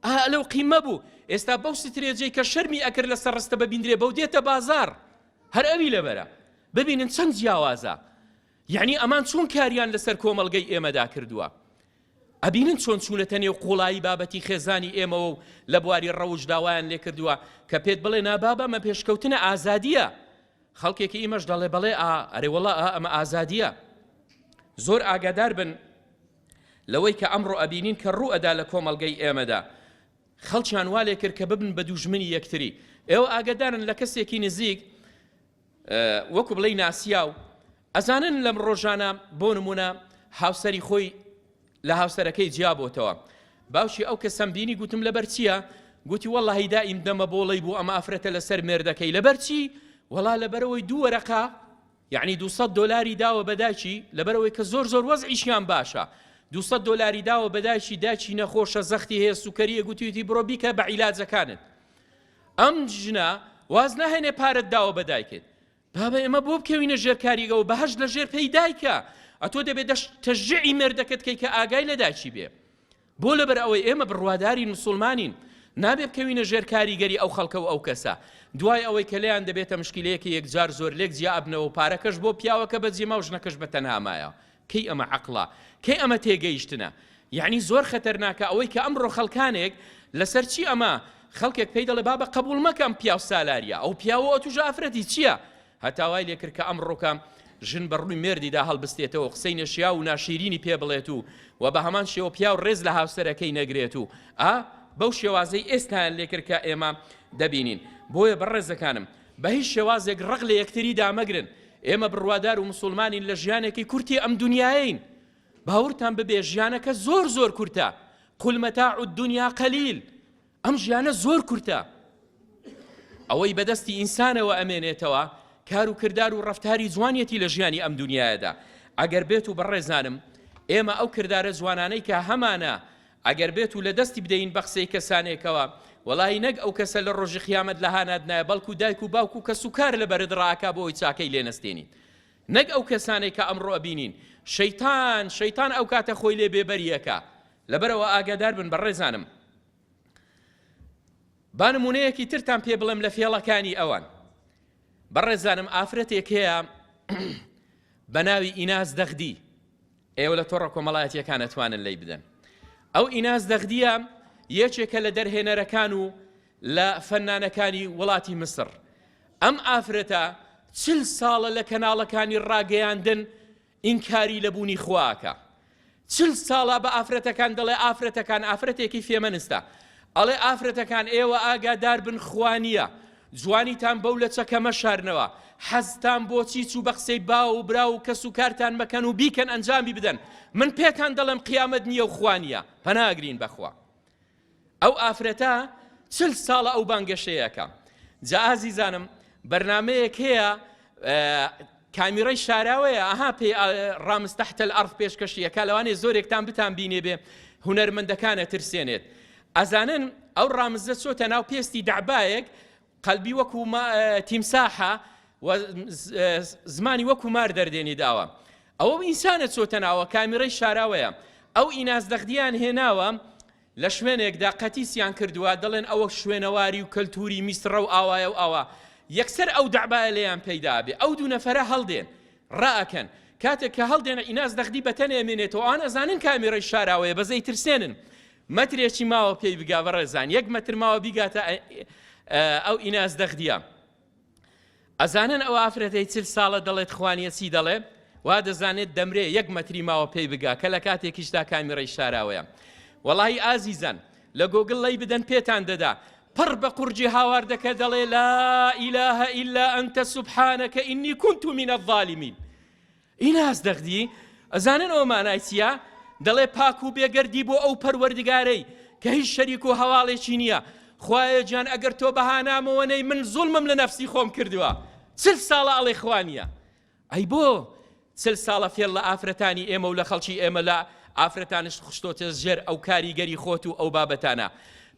ئا لەو قیمە بوو، ئێستا بەو سترێجەی کە شەرمی ئەکرد لەسەر ڕستە ببیندرێ بەو دێتە بازاڕ، هەر ئەوی لەبەرە. ببینن چەند جیاوازە، یەعنی ئەمان چۆن کاریان لەسەر کۆمەڵگەی ئێمەدا کردووە. ئەبینن چۆن چوونەتە نێو قوڵایی بابەتی خێزانی ئێمەوە و لە بواری ڕەوشدا وایان لێکردووە کە پێت بڵێ نا بابە ئەمە پێشکەوتنە ئازادییە خەڵکێکی ئیمەش دەڵێ بەڵێ ئا ئەرێ وەڵا ئا ئەمە ئازادییە زۆر ئاگادار بن لەوەی کە ئەمڕۆ ئەبینین کە ڕوو ئەدا لە کۆمەڵگەی ئێمەدا خەڵکیان والێ کرد کە ببن بە دوژمنی یەکتری ئێوە ئاگدارن لە کەسێکی نزیک وەکو بڵێی ناسیاو ئەزانن لەم ڕۆژانە بۆ نمونە هاوسەری خۆی لە هاوسەرەکەی جیا بۆتەوە باوکی ئەو کە سەمبینی گوتم لەبەر چییە گوتی وەڵ هەیدا ئیم دەمە بۆڵی بوو ئەم ئافرەتە لەسەر مێردەکەی لەبەر چی وەڵا لەبەرەوەی دوو وەرەقا یعنی 200 دلاری داوە بەداچی لەبەرەوەی کە زۆر زۆر وەز ئیشیان باشە 200 دلاری داوە بەداچی داچی نەخۆشە زەختی هەیە سوکەریە گوتیوتی بڕۆ بیکە بە عیلاجەکانت ئەم ژنە واز ناهێنێ پارەت داوە بە دایکت بابە ئێمە بۆ بکەوینە ژێر کاریگەەوە بەهش لە ژێر پێی دایکە ئەتۆ دەبێت دەش تەژعی مێردەکەت کەی کە ئاگای لە داچی بێ بۆ لەبەر ئەوەی ئێمە بڕواداری مسلمانین نابێ بکەوینە ژێر کاریگەری ئەو خەڵکە و ئەو کەسە دوای ئەوەی کە لێیان دەبێتە مشکلەیەکی یەکجار زۆر لێک جیابنەوە و پارەکەش بۆ پیاوەکە بە جێما و ژنەکەش بە تەنامایە کەی ئەمە عەقڵە؟ کەی ئەمە تێگەیشتنە؟ یەعنی زۆر خەتەرناکە ئەوەی کە ئەمڕۆ خەڵکانێک لەسەر چی ئەمە خەڵکێک پێی دەڵێ بابە قەبووڵ مەکە ئەم پیاو سالاریە ئەو پیاوە ئەتووش ئافرەتی چییە؟ هەتا وای لێکرد کە ئەمڕۆکە ژن بە ڕووی مێردیدا هەڵبستێتەوە قسەی نەشیاو و ناشیرینی پێ بڵێت و و بە هەمان شێوە پیاو ڕێز لە هاوسەرەکەی نەگرێت و ئا بەو شێوازەی ئێستایان لێکرد کە ئێمە دەبینین بۆیە بەڕێزەکانم بە هیچ شێوازێک ڕق لە یەکتری دامەگرن، ئێمە بڕوادار و مسوڵمانین لە ژیانێکی کورتی ئەم دونیایەین، باوەڕتان ببێ ژیانەکە زۆر زۆر کورتە، قل متاع الدنیا قلیل، ئەم ژیانە زۆر کورتە، ئەوەی بەدەستی ئینسانەوە ئەمێنێتەوە کار و کردار و ڕەفتاری جوانیەتی لە ژیانی ئەم دونیایەدا، ئەگەر بێت و بەڕێزانم ئێمە ئەو کردارە جوانانەی کە هەمانە ئەگەر بێتو لە دەستی بدەین بە قسەی کەسانێکەوە وەڵاهی نەک ئەو کەسە لە ڕۆژی قیامەت لە هانات نایە بەڵکو دایک و باوک و کەس و کار لە بەرت ڕاکا بۆ ئەوی چاکەی لێ نەستێنیت نەک ئەو کەسانەی کە ئەمڕۆ ئەبینین شەیتان شەیتان ئەو کاتە خۆی لێ بێبەریەکە لەبەرەوە ئاگادار بن بەڕێزانم با نمونەیەکی ترتان پێ بڵێم لە فێڵەکانی ئەوان بەڕێزانم ئافرەتێک هەیە بە ناوی ئیناس دەخدی ئێوە لە تۆڕە کۆمەڵایەتییەکان ئەتوانن لەی بدەن. ئەو ئیناس دەغدیە یەکێکە لە دەرهێنەرەکان و لە فەنانەکانی وڵاتی میسر. ئەم ئافرەتە چل ساڵە لە کەناڵەکانی ڕاگەیاندن ئینکاری لە بوونی خوا ئەکا. چل ساڵە بە ئافرەتەکان دەڵێ ئافرەتەکان ئافرەتێکی فێمەنستە. ئەڵێ ئافرەتەکان ئێوە ئاگادار بن خوا نییە، جوانیتان بەو لەچەکە مەشارنەوە، حەزتان بۆ چیچ و بەقسەی باو و برا و کەس و کارتان مەکەن و بیکەن ئەنجامی بدەن، من پێتان دەڵێم قیامەت نییە و خوا نییە، پەنا ئەگرین بەخوا. ئەو ئافرەتە چل ساڵە ئەو بانگەشەیەکە. جا ئازیزانم بەرنامەیەک هەیە کامیڕای شاراوەیە ئەها پێی ڕامز تحت الارض پێشکەشی ئەکا لەوانێ زۆرێکتان بتان بینێ بێ هونەرمەندەکان ئەترسێنێت ئەزانن ئەو ڕامزە چۆتە ناو پێستی دەعبایەک قەلبی وەکو تیمساحە زمانی وەکو مار دەردێنی داوە ئەوە ئینسانە چۆتە ناوە کامیڕەی شاراوەیە ئەو ئیناز دەخدیان هێناوە لە شوێنێکدا قەتیسیان کردووە دەڵێن ئەوە شوێنەواری و کەلتووری میسڕە و ئاوایە و ئاوا، یەکسەر ئەو دەعبایە لێیان پەیدا ئەبێ، ئەو دوو نەفەرە هەڵدێن، ڕائەکەن، کاتێک کە هەڵدێن ئیناس دەغدی بەتەنێ مێنێتەوە، ئەوان ئەزانن کامیرەی شاراوەیە بەس ئەیترسێنن، مەترێکی ماوە پێی بگا بەڕێزان، یەک مەتر ماوە بیگاتە ئەو ئیناس دەغدیە. ئەزانن ئەو ئافرەتەی چل ساڵە دەڵێت خوانیە چی دەڵێ وا دەزانێت دەمرێ یەک مەتری ماوە پێی بگا کە لە کاتێکیشدا کامیڕەی شاراوەیە وەڵی ئازیزان لە گۆگل ڵی بدەن پێتان دەدا پڕ بە قورجی هاواردەکە دەڵێ لا ئیلاهە ئیلا ئەنتە سوبحانەکە ئینی کونت و منە ڤالیمین ئیناس دەغدی، ئەزانن ئەوە مانای چییە؟ دەڵێ، پاک و بێگەردی بۆ ئەو پەروەردگارەی کە هیچ شەریک و هەواڵێکی نییە، خوایە گیان ئەگەر تۆ بەهانامەوە نەی من زوڵمم لە نەفسی خۆم کردووە، چل ساڵە ئەڵێ خوا نییە، ئەی بۆ چل ساڵە فێڵ لە ئافرەتانی ئێمە و لە خەڵکی ئێمە لە ئافرەتانشت خشتۆتە ژێر ئەو کاریگەری خۆت و ئەو بابەتانە،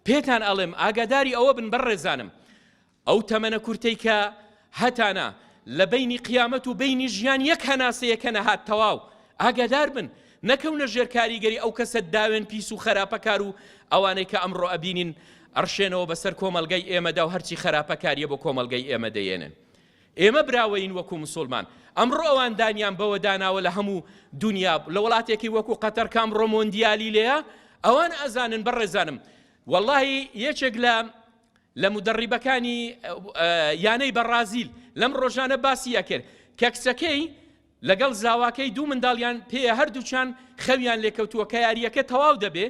پێتان ئەڵێم ئاگاداری ئەوە بن بەڕێزانم، ئەو تەمەنە کورتەی کە هەتانە لە بەینی قیامەت و بەینی ژیان یەک هەناسەیە کە نەهات تەواو ئاگادار بن نەکەونە ژێر کاریگەری ئەو کەسە داوێن پیس و خەراپەکار و ئەوانەی کە ئەمڕۆ ئەبینین ئەڕشێنەوە بەسەر کۆمەلگای ئێمەدا و هەرچی خەراپەکاریە بۆ کۆمەلگای ئێمە دەیێنن ئێمە براوەین وەکو مسلمان ئەمڕۆ ئەوان دانیان بەوە داناوە لە هەموو دنیا لە وڵاتێکی وەکو قەتەر کام ڕۆمۆندیالی لەیە ئەوان ئەزانن بەڕێزانم واللهی یەکێک لە لە مودەڕیبەکانی یانەی بەڕازیل لەم ڕۆژانە باسی ئەکرد کە کچەکەی لەگەڵ زاواکەی دوو منداڵیان پێیە هەردووچان خەویان لێکەوتووە کە یاریەکە تەواو دەبێ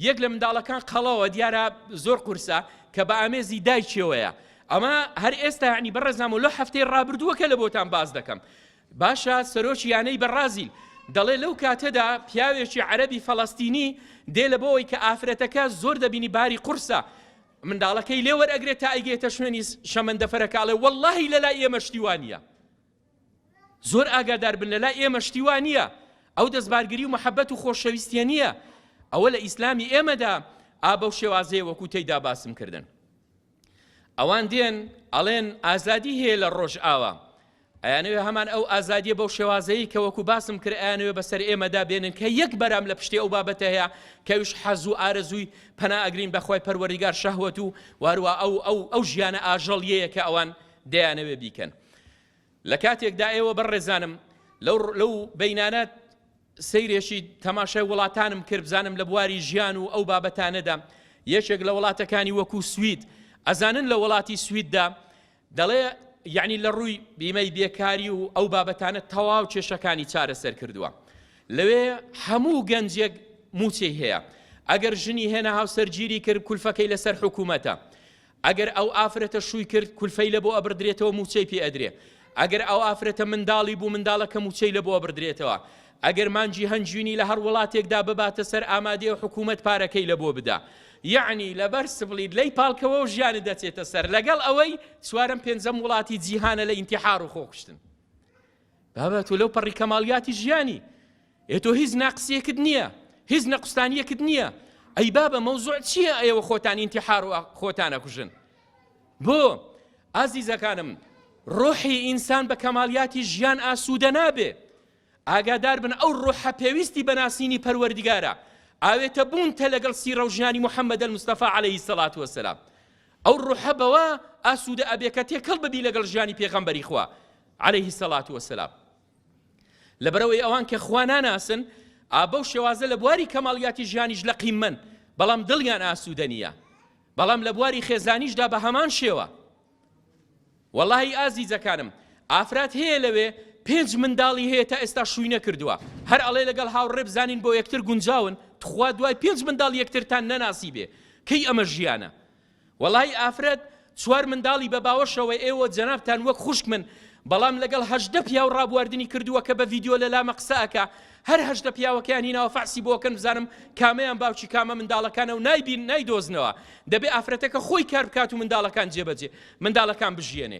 یەک لە منداڵەکان قەڵەوە دیارە زۆر قورسە کە بە ئامێزی دایکیەوەیە ئەمە هەر ئێستا عنی بەڕێزام و لە هەفتەی ڕابردووەکە لە بۆتان باز دەکەم باشە سەرۆکی یانەی بەڕازیل دەڵێ لەو کاتەدا پیاوێکی عەرەبی فەڵەستینی دێ لە بۆەوەی کە ئافرەتەکە زۆر دەبینی باری قورسە منداڵەکەی لێوەر ئەگرێت تا ئەیگێتە شوێنی شەمەندەفەرەکاڵێ واللهی لەلا ئێمە شتیوانە زۆر ئاگادار بن لەلا ئێمە شتیوانە ئەو دەستبارگری و محەبەت و خۆشەویستە نییە ئەوە لە ئیسلامی ئێمەدا ئابە و شێوازەیە وەکو تێیدا باسم کردن ئەوان دێن ئەڵێن ئازادی هەیە لە ڕۆژئاوا ئەیانەوێ هەمان ئەو ئازادیە بەو شێوازەیە کە وەکو باسم کرد ئەیانەوێ بەسەر ئێمەدا بێنن کە یەک بەرام لە پشتی ئەو بابەتە هەیە کەویش حەز و ئارەزووی پەنا ئەگرین بەخوای پەروەردیگار شەهوەت و وارووا ئەو ئەو ئەو ژیانە ئاژەڵیەیە کە ئەوان دەیانەوێ بیکەن لە کاتێکدا ئێوە بەڕێزانم لەو لەو بینانە سەیرێکی تەماشای وڵاتانم کرد بزانم لە بواری ژیان و ئەو بابەتانەدا یەکێک لە وڵاتەکانی وەکو سوید ئەزانن لە وڵاتی سویددا دەڵێ یعنی لە ڕووی بیمەی بێکاری و ئەو بابەتانە تەواو کێشەکانی چارەسەر کردووە لەوێ هەموو گەنجێک موچەی هەیە ئەگەر ژنی هێنا هاوسەرگیری کرد کولفەکەی لەسەر حکوومەتە ئەگەر ئەو ئافرەتە شووی کرد کولفەی لە بۆ ئەبڕدرێتەوە مووچەی پێ ئەدرێ ئەگەر ئەو ئافرەتە منداڵی بوو منداڵەکە مووچەی لە بۆ ئەبڕدرێتەوە ئەگەر مانجی هەنجوینی لە هەر وڵاتێکدا بباتە سەر ئامادەیە حکوومەت پارەکەی لە بۆ بدا یەعنی لەبەر سبڵیت لەی پاڵکەوە و ژیانت دەچێتە سەر لەگەڵ ئەوەی چوارم پێنجەم وڵاتی جیهانە لە ئینتیحار و خۆکوشتن بابەت و لەو پەڕی کەماڵیاتی ژیانی ئێ تۆ هیچ ناقسیەکت نیە هیچ نەقوستانیەکت نیە ئەی بابە مەوزوع چیە ئێوە خۆتان ئینتیحار و خۆتان ئەکوژن بۆ ئازیزەکانم ڕۆحی ئینسان بە کەمالیاتی ژیان ئاسوودە نابێ ئاگادار بن ئەو ڕۆحە پێویستی بەناسینی پەروەردگارە ئاوێتە بوونتە لەگەڵ سیرە و ژیانی محەممەد المستەفا عليهەی سەلات وسلام ئەو ڕوحە بەوە ئاسوودە ئەبێ کە تێکەڵ ببی لەگەڵ ژیانی پێغەمبەری خوا عليهەی سەلات وسلام لەبەرئەوەی ئەوان کە خوا ناناسن، ئا بەو شێوازە لە بواری کەماڵیاتی ژیانیش لە قیممەن، بەڵام دڵیان ئاسوودە نییە. بەڵام لە بواری خێزانیشدا بە هەمان شێوە. وەڵاهی ئازیزەکانم، ئافرەت هەیە لەوێ پێنج منداڵی هەیە تا ئێستا شووی نەکردووە، هەر ئەڵێ لەگەڵ هاوڕێ بزانین بۆ یەکتر گونجاون، توخوا دوای پێنج منداڵ یەکترتان نەناسیبێ، کەی ئەمە ژیانە؟ وەڵایی ئافرەت چوار منداڵی بە باوەشەوەی ئێوە جەنابتان وەک خوشکمن بەڵام لەگەڵ هەژدە پیاو ڕابواردنی کردووە کە بە ڤیدیۆ لە لامە قسە ئەکا هەر هەژدە پیاوەکەیان هیناوە فەحسی بۆکەن بزانم کامەیان باوکی کامە منداڵەکانە و نایبین نایدۆزنەوە دەبێ ئافرەتەکە خۆی کار بکات و منداڵەکان جێبەجێ منداڵەکان بژیەنێ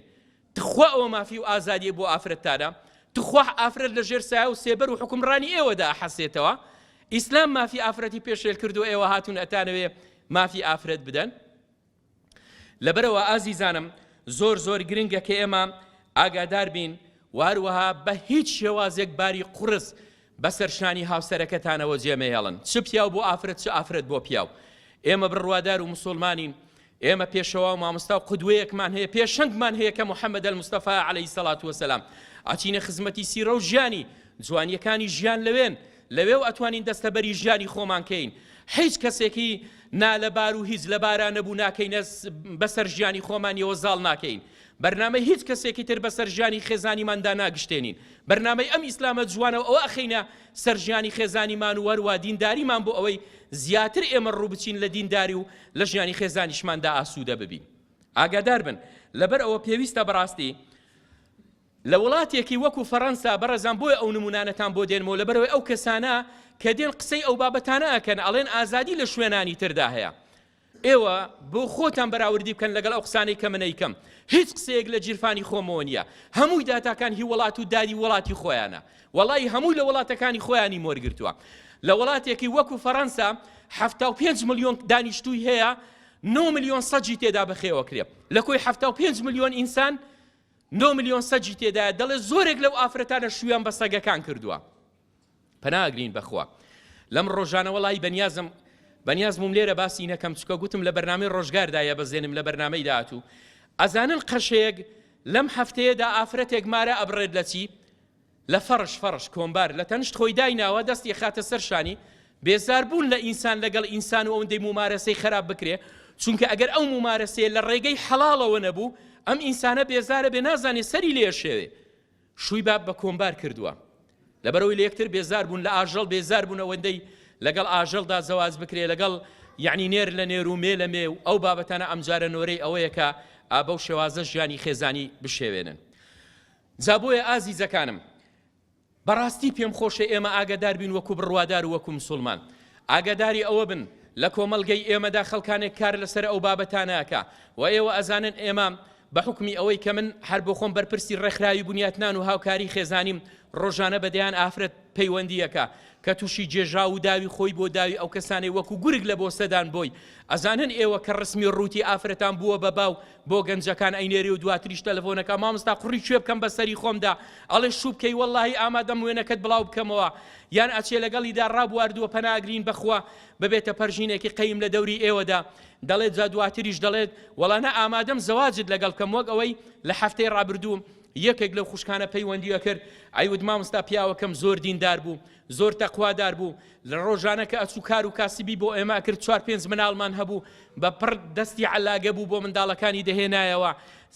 تخوا ئەوە مافی و ئازادیە بۆ ئافرەت تادە تخوا ئافرەت لە ژێر سایە و سێبەر و حکومڕانی ئێوەدا ئەحەسێتەوە ئیسلام مافی ئافرەتی پێشێل کردو ئێوە هاتون ئەتانەوێ مافی ئافرەت بدەن لەبەرەوە ئازیزانم زۆر زۆر گرنگە کە ئێمە ئاگادار بین واروەها بە هیچ شێوازێک باری قڕز بەسەر شانی هاوسەرەکەتانەوە جێمەهێڵن چ پیاو بۆ ئافرەت چ ئافرەت بۆ پیاو ئێمە بڕوادار و مسلمانین ئێمە پێشەوا و مامۆستا و قودوەیەکمان هەیە، پێشەنگمان هەیە کە محمد المصطفی علیە الصلوة والسلام. ئەچینە خزمەتی سیرە و ژیانی، جوانییەکانی ژیان لەوێن، لەوێ و ئەتوانین دەستەبەری ژیانی خۆمان کەین. هیچ کەسێکی نالەبار و هیچ لەبارا نەبوو ناکەینە بەسەر ژیانی خۆمانیەوە زاڵ ناکەین. بەرنامەی هیچ کەسێکی تر بەسەر ژیانی خێزانیماندا ناگشتێنین. بەرنامەی ئەم ئیسلامە جوانە و ئەوە ئەخەینە سەر ژیانی خێزانیمان و هەروا دینداریمان بۆ ئەوەی زیاتر ئێمە ڕووبچین لە دینداری و لە ژیانی خێزانیشماندا ئاسوودە ببین ئاگادار بن لەبەر ئەوە پێویستە بەڕاستی لە وڵاتێکی وەکو فەڕەنسا بەڕێزان بۆیە ئەو نمونانەتان بۆ دێنمەوە لەبەرەوەی ئەو کەسانە کە دێن قسەی ئەو بابەتانە ئەکەن ئەڵێن ئازادی لە شوێنانی تردا هەیە ئێوە بۆ خۆتان بەراوردی بکەن لەگەڵ ئەو قسانەی کە من ئەیکەم هیچ قسەیەک لە جیرفانی خۆمەوە نییە هەمووی داتاکان هی وڵات و داری وڵاتی خۆیانە وەڵی هەمووی لە وڵاتەکانی خۆیانی مۆرگرتووە لە وڵاتێکی وەکو فەڕەنسا حفتا و پێنج ملیۆن دانیشتووی هەیە نۆ ملیۆن سەجی تێدا بەخێوەکرێ لە کۆی حفتا و پێنج ملیۆن ئینسان نۆ ملیۆن سەجی تێدایە دەڵێ زۆرێک لەو ئافرەتانە شویان بە سەگەکان کردووە پەنا ئەگرین بەخوا لەم ڕۆژانە وەڵایی بەنیازم بەنیازمم لێرە باسی نەکەم چکە گوتم لە بەرنامەی ڕۆژگاردا یە بەزێنم لە بەرنمەی داهاتوو ئەزانن قەشەیەک لەم هەفتەیەدا ئافرەتێک مارە ئەبڕێت لە چی لە فەرش فەرش کۆمبار لە تەنشت خۆی دایناوە دەستی خاتە سەر شانی بێزار بوون لە ئینسان لەگەڵ ئینسان و ئەوەندەی مومارەسەی خراپ بکرێ چونکە ئەگەر ئەو مومارەسەیە لە ڕێگەی حەڵاڵەوە نەبوو ئەم ئینسانە بێزارە بێ نازانێ سەری لێشێوێ شووی باب بە کۆمبار کردووە لەبەرەوەی لەیەکتر بێزار بوون لە ئاژەڵ بێزار بوون ئەوەندەی لەگەڵ ئاژەڵدا زەواج بکرێ لەگەڵ یەعنی نێر لە نێر و مێ لە مێ و ئەو بابەتانە ئەمجارە نۆرەی ئەوەیە کە ئابە و شێوازە ژیانی خێزانی بشێوێنن جا بۆیە ئازیزەکانم بەڕاستی پێم خۆشە ئێمە ئاگادار بین وەکو بڕوادار و وەکو مسلمان ئاگاداری ئەوە بن لە کۆمەلگەی ئێمەدا خەڵکانێک کار لەسەر ئەو بابەتانەکە و ئێوە ئەزانن ئێمە بە حوکمی ئەوەی کە من هەر بۆ خۆم بەرپرسی ڕێکخراوی بنیاتنان و هاوکاری خێزانیم ڕۆژانە بە دەیان ئافرەت پەیوەندیەکە کە تووشی جێژا و داوی خۆی بۆ داوی ئەو کەسانەی وەکو گورگ لە بۆسەدان بۆی ئەزانن ئێوە کە ڕسمی ڕووتی ئافرەتان بووە بە باو بۆ گەنجەکان ئەینێری و دواتریش تەلەفۆنەکە مامستا قڕی کوێ بکەم بە سەری خۆمدا ئەڵێ شوو بکەی وەڵی ئامادەم وێنەکەت بڵاو بکەمەوە یان ئەچێ لەگەڵیدا ڕابواردووە پەناگرین بەخوا ببێتە پەرژینێکی قەیم لە دەوری ئێوەدا دەڵێت جا دواتریش دەڵێت وەڵا نا ئامادەم زەواجت لەگەڵ بکەم وەک ئەوەی لە هەفتەی ڕابردوو یەکێک لەو خوشکانە پەیوەندی ئەکرد ئەیوت مامۆستا پیاوەکەم زۆر دیندار بوو زۆر تەقوادار بوو لە ڕۆژانە کە ئەچوو کار و کاسبی بۆ ئێمە ئەکرد چوار پێنج مناڵمان هەبوو بە پڕ دەستی عەلاگە بوو بۆ منداڵەکانی دەهێنایەوە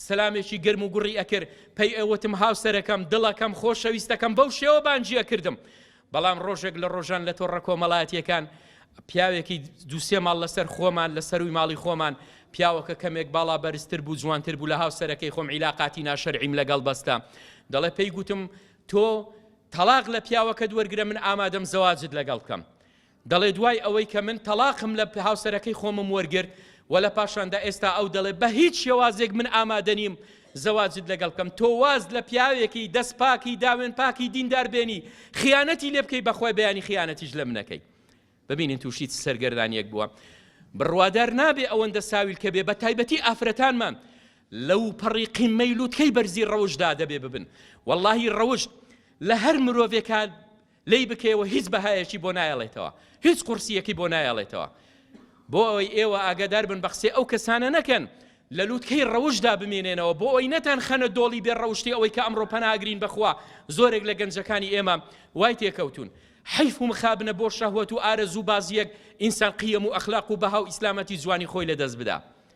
سەلامێکی گرم و گوڕی ئەکرد پێی ئەوتم هاوسەرەکەم دڵەکەم خۆشەویستەکەم بەو شێوە بانگی ئەکردم بەڵام ڕۆژێک لە ڕۆژان لە تۆڕە کۆمەڵایەتییەکان پیاوێکی دوو سێ ماڵ لەسەر خۆمان لە سەرووی ماڵی خۆمان پیاوەکە کەمێک باڵا بەرزتر بوو جوانتر بوو لە هاوسەرەکەی خۆم عیلاقاتی ناشەرعیم لەگەڵ بەستە دەڵێ پێی گوتم تۆ تەڵاق لە پیاوەکەت وەرگرە من ئامادەم زەواجت لەگەڵ بکەم دەڵێ دوای ئەوەی کە من تەڵاقم لە هاوسەرەکەی خۆمم وەرگرت و لە پاشاندا ئێستا ئەو دەڵێ بە هیچ شێوازێک من ئامادە نیم زەواجت لەگەڵ بکەم تۆ واز لە پیاوێکی دەست پاکی داوێن پاکی دیندار بێنی خیانەتی لێ بکەی بەخوای بەیانی خیانەتیش لە منەکەی ببینین تووشی سەرگەردانیەک بووە بڕوادار نابێ ئەوەندە ساویل کە بێ بە تایبەتی ئافرەتانمان لەو پەڕی قیمەی لوتکەی بەرزی ڕەوشدا دەبێ ببن واللهی ڕەوشت لە هەر مرۆڤێکان لێی بکەیەوە هیچ بەهایەکی بۆ نایەڵێتەوە هیچ قوڕسیەکی بۆ نایەڵێتەوە بۆ ئەوەی ئێوە ئاگادار بن بە قسەی ئەو کەسانە نەکەن لە لوتکەی ڕەوشدا بمێنێنەوە بۆ ئەوی نەتان خەنە دۆڵی بێ ڕەوشتی ئەوەی کە ئەمڕۆ پەناگرین بەخوا زۆرێک لە گەنجەکانی ئێمە وای تێکەوتون حیف و مخابنە بۆ شەهوەت و ئارەزوو بازیەک ئینسان قیەم و ئەخلاق و بەها و ئیسلامەتی جوانی خۆی لەدەست بدا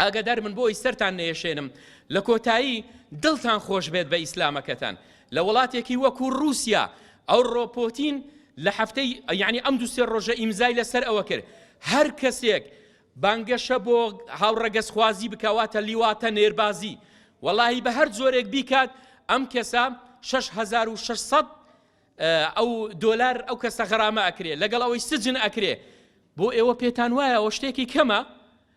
ئاگادار بن بۆی سەرتان نەیەشێنم لە کۆتایی دڵتان خۆش بێت بە ئیسلامەکەتان لە وڵاتێکی وەکو رووسیا ئەو ڕۆپۆتین لە هەفتەی یعنی ئەم دو سێ ڕۆژە ئیمزای لەسەر ئەوە کرد هەر کەسێک بانگەشە بۆ هاوڕەگەزخوازی بکەواتە لیواتە نێربازی وەڵی بە هەر زۆرێک بیکات ئەم کەسە 6600 ئەو دۆلار ئەو کەسە غەرامە ئەکرێ لەگەڵ ئەوەی سجن ئەکرێ بۆ ئێوە پێتان وایە ئەو شتێکی کەمە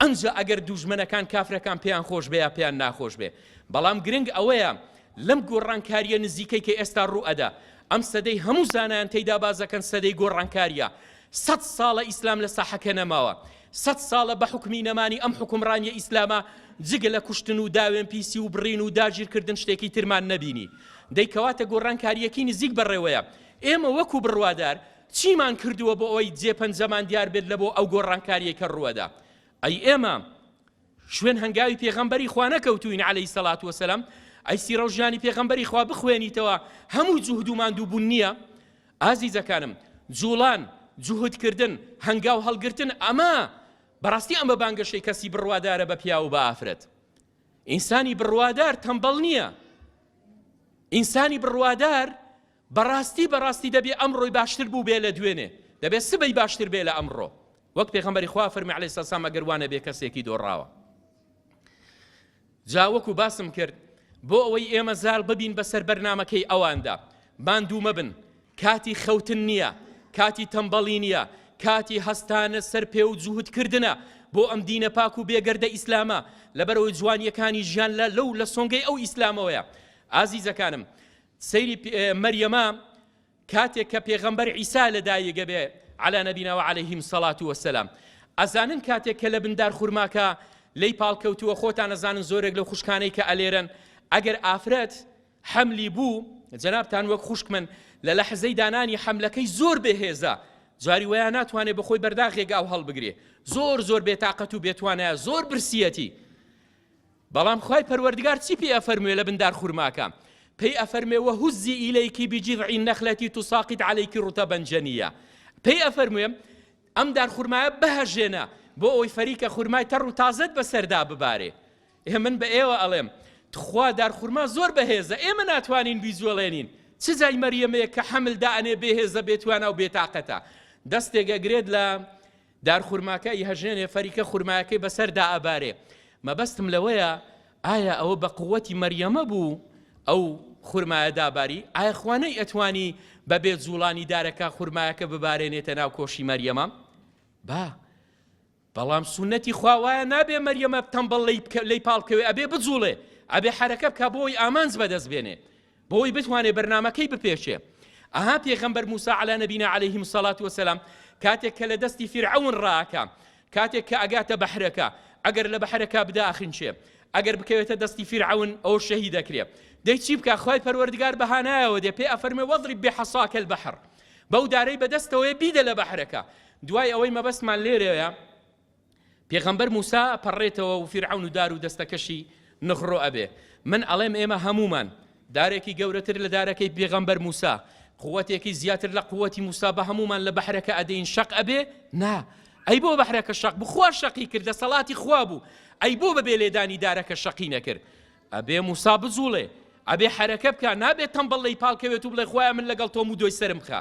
ئنجا ئەگەر دووژمەنەکان کافرەکان پێیان خۆش بێ یا پێیان ناخۆش بێ بەڵام گرنگ ئەوەیە لەم گۆڕانکاریە نزیکەی کە ئێستا ڕوو ئەدا ئەم سەدەی هەموو زانایان تێیدا بازەکەن سەدەی گۆڕانکاریە سەد ساڵە ئیسلام لە ساحەکە نەماوە سەد ساڵە بە حکومی نەمانی ئەم حکومڕانیە ئیسلامە جگە لە کوشتن و داوێن پیسی و بڕین و داگیرکردن شتێکی ترمان نەبینی دەیکەواتە گۆڕانکاریەکی نزیک بەڕێوەیە ئێمە وەکو بڕوادار چیمان کردووە بۆ ئەوەی جێ پەنجەمان دیار بێت لە بۆ ئەو گۆڕانکاریەی کە ڕووەدا؟ ئەی ئێمە شوێن هەنگاوی پێغەمبەری خوا نەکەوتوین عەلەیهی سەڵات وەسەلام؟ ئەی سیرەو ژیانی پێغەمبەری خوا بخوێنیتەوە هەموو جوهد و ماندوو بوون نییە؟ ئازیزەکانم جوڵان جوهد کردن هەنگاو هەڵگرتن ئەمە بەڕاستی ئەمە بانگەشەی کەسی بڕوادارە بە پیاو و بە ئافرەت ئینسانی بڕوادار تەمبەڵ نییە ئینسانی بڕوادار بەڕاستی بەڕاستی دەبێ ئەمڕۆی باشتر بووبێ لە دوێنێ، دەبێ سبەی باشتر بێ لە ئەمڕۆ، وەک پێغەمبەری خوا فەرمی علیە سەسام ئەگەر وانەبێ کەسێکی دۆڕاوە. جا وەکو باسم کرد بۆ ئەوەی ئێمە زاڵ ببین بەسەر بەرنمەکەی ئەواندا ماندوو مەبن کاتی خەوتن نییە کاتی تەمبەڵی نییە کاتی هەستانە سەر پێ و جووتکردە بۆ ئەم دینە پاک و بێگەردە ئیسلامە لەبەرەوەی جوانیەکانی ژیان لە لەو لە سۆنگەی ئەو ئیسلامەوەیە ئازیزەکانم سەیری پێ مەریەمە کاتێک کە پێغەمبەر عیسا لە دایگە بێ علا نبینا و علیهم سەڵات وەسەلام ئەزانن کاتێک کە لە بندار خورماکە لی پاڵکەوتووە خۆتان ئەزانن زۆرێک لە خوشکانەی کە ئەلێرن ئەگەر ئافرەت حەملی بوو جەنابتان وەک خوشک من لە لە حزەی دانانی حەملەکەی زۆر بەهێزە جاری وەیە ناتوانێت بەخۆی بەرداخێک ئەو هەڵبگرێ زۆر زۆر بێتاقەت و بێتوانە زۆر برسیەتی بەڵام خوای پەروەردگار چی پێی ئەفەرموێ لە بن دار خورماکە؟ پێی ئەفەرموێ وهزی ئیلیک بجذع النخلە تساقط علیک رطبا جنیا پێی ئەفەرموێ ئەم دار خورمایە بهەژێنە بۆ ئەوەی فەریکە خورمای تەڕ و تازەت بەسەردا ببارێ ئێ من بە ئێوە ئەڵێم تخوا دار خورما زۆر بەهێزە ئێمە ناتوانین بیجوڵێنین چ جای مەریەمەیە کە حەمل دائەنێ بێهێزە بێتوانا و بێتاقەتە دەستێک ئەگرێت لە دار خورماکە ئیهەژێنێ فەریکە خورمایەکەی بەسەر دائەبارێ مەبەستم لەوەیە ئایا ئەوە بە قوەتی مەریەمە بوو ئەو خورمایە داباری ئایا خوا نەی ئەتوانی بەبێ جوڵانی دارەکە خورمایەکە ببارێنێتە ناو کۆشی مەریەمە با بەڵام سونەتی خوا وایە نابێ مەریەمە تەمبەڵ لی پاڵکەوێ ئەبێ بجوڵێ ئەبێ حرەکە بکە بۆی ئامانج بەدەست بێنێ بۆی بتوانێ بەرنامەکەی بپێچێ. ئەها پێغەمبەر موسا علی نبینا علیه الصلاة والسلام کاتێک کە لە دەستی فرعون ڕاکە کاتێک کە ئەگاتە بەحرەکە ئەگەر لە بەحرەکە بداخنچێ ئەگەر بکەوێتە دەستی فرعون ئەو شەهی دەکرێ دەی چی بکە خی پەروەردگار بەهانایەوە دێ پێ ئەفەرمێ وەزری بێحەساکە البحر بەو دارەی بەدەستەوەی بیدە لە بەحرەکە دوای ئەوەی مەبەستمان لێرەیە پێغەمبەر موسا ئەپەڕێتەوە و فیرعەون و دار و دەستەکەشی نغرۆ ئەبێ من ئەڵێم ئێمە هەموومان دارێکی گەورەتر لە دارەکەی پێغەمبەر موسا قوەتێکی زیاتر لە قوەتی موسا بە هەموومان لە بەحرەکە ئەدەین شەق ئەبێ نا ئەی بۆ بەحرەکە شەق بخوا شەقی کرد دەسەڵاتی خوا بوو ئەی بۆ بەبێ لێدانی دارەکە شەقی نەکرد ئەبێ موسا بجوڵێ ئەبێ حەرەکە بکا نابێت تەمبەڵ لەی پاڵکەوێت و بڵێ خۆیان من لەگەڵ تۆم و دۆی سرم بخە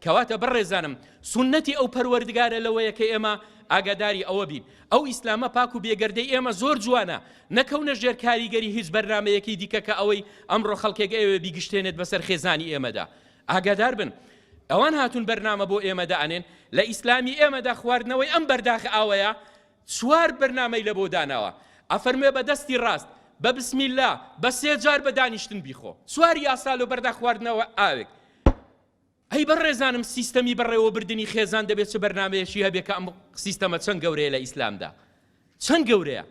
کەواتە بەڕێزانم سنەتی ئەو پەروەردگارە لەوەیە کە ئێمە ئاگاداری ئەوە بین ئەو ئیسلامە پاک و بێگەردەی ئێمە زۆر جوانە نەکەونە ژێر کاریگەری هیچ بەرنمەیەکی دیکە کە ئەوەی ئەمڕۆ خەڵکێک ئێوێ بیگشتێنێت بەسەر خێزانی ئێمەدا ئاگادار بن ئەوان هاتون بەرنامە بۆ ئێمەدا ئەنێن لە ئیسلامی ئێمەدا خواردنەوەی ئەم بەرداخ ئاوەیە چوار بەرنامەی لەبۆ داناوە ئەفەرموێ بە دەستی ڕاست بە بسم اللە بە سێ جار بە دانیشتن بیخۆ چوار یاسا لۆ بەردا خواردنەوە ئاوێک ئەی بەڕێزانم سیستەمی بەڕێوەبردنی خێزان دەبێت چ بەرنمەیەشی هەبێت کە ئەم سیستەمە چەند گەورەیە لە ئیسلامدا چەند گەورەیە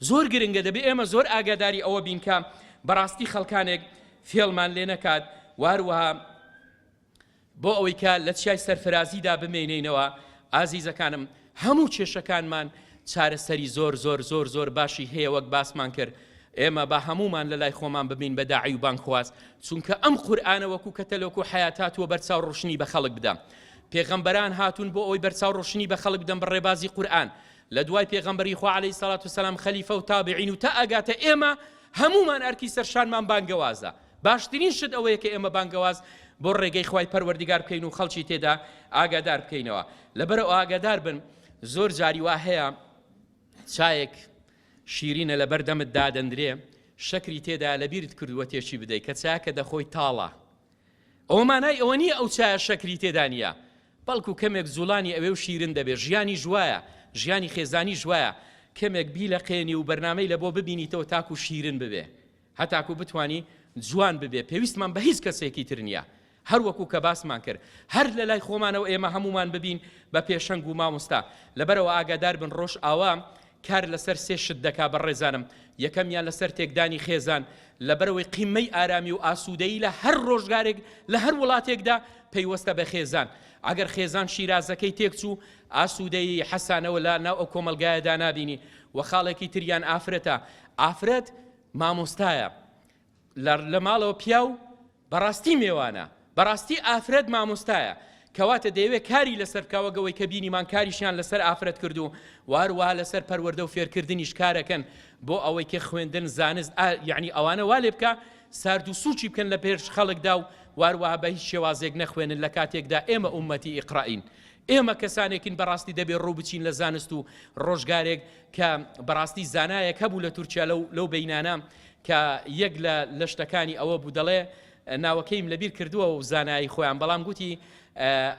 زۆر گرنگە دەبێت ئێمە زۆر ئاگاداری ئەوە بینکە بەڕاستی خەڵکانێک فێڵمان لێ نەکات واروها بۆ ئەوەی کە لە چیای سەرفرازیدا بمێنێینەوە ئازیزەکانم هەموو کێشەکانمان چارەسەری زۆر زۆر زۆر زۆر باشی هەیە وەک باسمان کرد ئێمە با هەمومان لە لای خۆمان ببین بە داعی و بانگخواز چونکە ئەم قورآانە وەکو کە تەلۆک و حیات هاتووە بەرچاو ڕشنی بە خەڵک بدە پێغەمبەران هاتوون بۆ ئەوی بەرچاو ڕشنی بە خەڵک بدەم بە ڕێبازی قورآن لە دوای پێغەمبەری خوا عليه سلاات و سلام خەلیفە و تابعین و تا ئەگاتە ئێمە هەمومان ئەرکی سەرشانمان بانگەوازە باشترین شت ئەوەیە کە ئێمە بانگەواز بۆ ڕێگەی خوای پەروەردگار بکەین و خەڵکی تێدا ئاگادار بکەینەوە لەبەرەوە ئاگادار بن زۆر جاری وا هەیە چایەک شیرینە لە بەردەمت دادەندرێ شەکری تێدا لە بیرت کردووە تێچی بدەیت کە چاکە دەخۆی تاڵە ئەو مانای ئەوە نییە ئەو چایە شەکری تێدانە بەڵکو کەمێک زولانی ئەوێ و شیرن دەبێ ژیانی ژوایە ژیانی خێزانی ژوایە کەمێک بی لە قێنی و بەرنمەی لە بۆ ببینیتەوە تاکو شیرن ببێ هەتاکو بتوانی جوان ببێ پێویستمان بە هیچ کەسێکی تر نیە هەر وەکو کە باسمان کرد هەر لە لای خۆمانەوە ئێمە هەموومان ببین بە پێشەنگ و مامۆستا لەبەرەوە ئاگادار بن ڕۆژ ئاوا کار لەسەر سێ شت دەکا بە ڕێزانم یەکەمیان لەسەر تێکدانی خێزان لەبەرەوەی قیمەی ئارامی و ئاسوودەی لە هەر ڕۆژگارێک لە هەر وڵاتێکدا پەیوەستە بە خێزان ئەگەر خێزان شیرازەکەی تێکچوو ئاسوودەی حەسانەوە لا ناو ئەو کۆمەلگایەدا نابینی و خاڵێکی تریان ئافرەتە ئافرەت مامۆستایە لە ماڵەوە پیاو بەڕاستی مێوانە بەڕاستی ئافرەت مامۆستایە کەواتە دەیەوێت کاری لەسەر بکەوە گەوەی کە بینیمان کاریشیان لەسەر ئافرەت کردو واروا لەسەر پەروەەردە و فێرکردنیش کارەکەن بۆ ئەوەی کە خوێندن زانست یعنی ئەوانە وا لێ بکە سارد و سوچی بکەن لە پێرش خەڵکدا و واروا بە هیچ شێوازێک نەخوێنن لە کاتێکدا ئێمە ئومەتی ئیقرائین ئێمە کەسانێکین بەڕاستی دەبێ ڕوو بچین لە زانست و ڕۆژگارێک کە بەڕاستی زانایەک هەبوو لە تورکیا لەو لەو بینانە کە یەک لە لە شتەکانی ئەوە بوو دەڵێ ناوەکەیم لەبیر کردووە و زانایی خۆیان بەڵام گوتی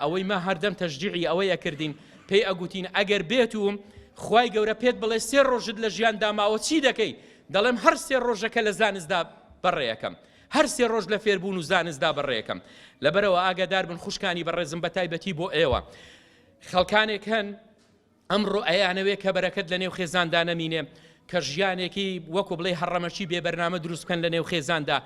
ئەوەی ما هەردەم تەشجیعی ئەوەی ئەکردین پێی ئەگوتین ئەگەر بێت و خی گەورە پێت بڵێ سێ ڕۆژت لە ژیان داماوە چی دەکەی دەڵێم هەر سێ ڕۆژەکە لە زانستدا بەڕێەکەم هەر سێ ڕۆژ لە فێربوون و زانستدا بەڕێەکەم لەبەرەوە ئاگادار بن خوشکانی بەڕێزم بە تایبەتی بۆ ئێوە خەڵکانێک هەن ئەمڕۆ ئەیانەوێ کە بەرەکەت لە نێو خێزاندا نەمینێ کە ژیانێکی وەکو بڵێ هەڕەمەکی بێ بەرنامە دروست بکەن لە نێو خێزاندا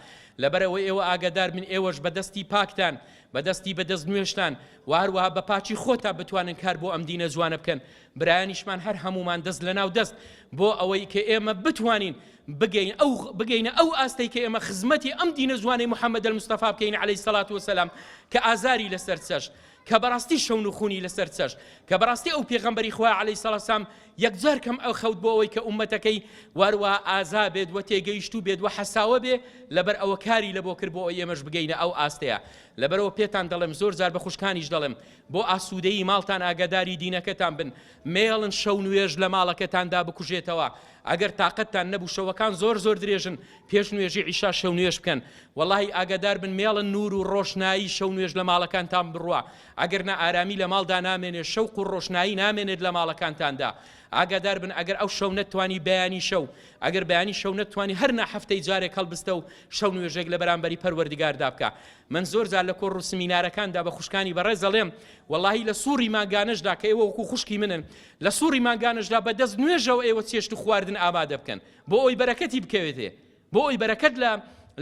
لەبەرەوە ئێوە ئاگادار من ئێوەش بە دەستی پاکتان بە دەستی بە دەست نوێشتان و هەروەها بە پاچی خۆتا بتوانن کار بۆ ئەم دینە جوانە بکەن برایانیشمان هەر هەمومان دەست لە ناو دەست بۆ ئەوەی کە ئێمە بتوانین بگەین ئەو بگەینە ئەو ئاستەی کە ئێمە خزمەتی ئەم دینە جوانەی محەممەد المستەفا بکەین عليهەی سەلات وسلام کە ئازاری لەسەر چەشت کە بەڕاستی شەون و خونی لەسەر چەش کە بەڕاستی ئەو پێغەمبەری خوا عەلەی سەڵسام یەکجار کەم ئەو خەوت بۆ ئەوەی کە ئومەتەکەی واروا ئازا بێت وە تێگەیشت و بێت وە حەساوە بێ لەبەر ئەوە کاری لە بۆ کرد بۆ ئێمەش بگەینە ئەو ئاستەیە لەبەرەوە پێتان دەڵێم زۆر جار بە خوشکانیش دەڵێم بۆ ئاسوودەی ماڵتان ئاگاداری دینەکەتان بن مێڵن شەو نوێژ لە ماڵەکەتاندا بکوژێتەوە ئەگەر تاقەتتان نەبوو شەوەکان زۆر زۆر درێژن پێش نوێژی عیشا شەو نوێژ بکەن وەڵاهی ئاگادار بن مێڵن نور و ڕۆشنایی شەو نوێژ لە ماڵەکانتان بڕوا ئەگەر نا ئارامی لە ماڵدا نامێنێ شەوق و ڕۆشنایی نامێنێت لە ماڵەکانتاندا ئاگادار بن ئەگەر ئەو شەو نەتوانی بەیانی شەو ئەگەر بەیانی شەو نەتوانی هەر نا هەفتەی جارێک هەڵبستە و شەو نوێژێک لە بەرامبەری پەروەردگاردا بکە من زۆر جار لە کۆڕ و سمینارەکاندا بە خوشکانی بەڕێز دەڵێم واللهی لە سوڕی ماگانەشدا کە ئێوە وەکو خوشکی منن لە سوڕی مانگانەشدا بە دەست نوێژەوە ئێوە چێشت و خواردن ئامادە بکەن بۆ ئەوی بەرەکەتی بکەوێتێ بۆ ئەوی بەرەکەت لە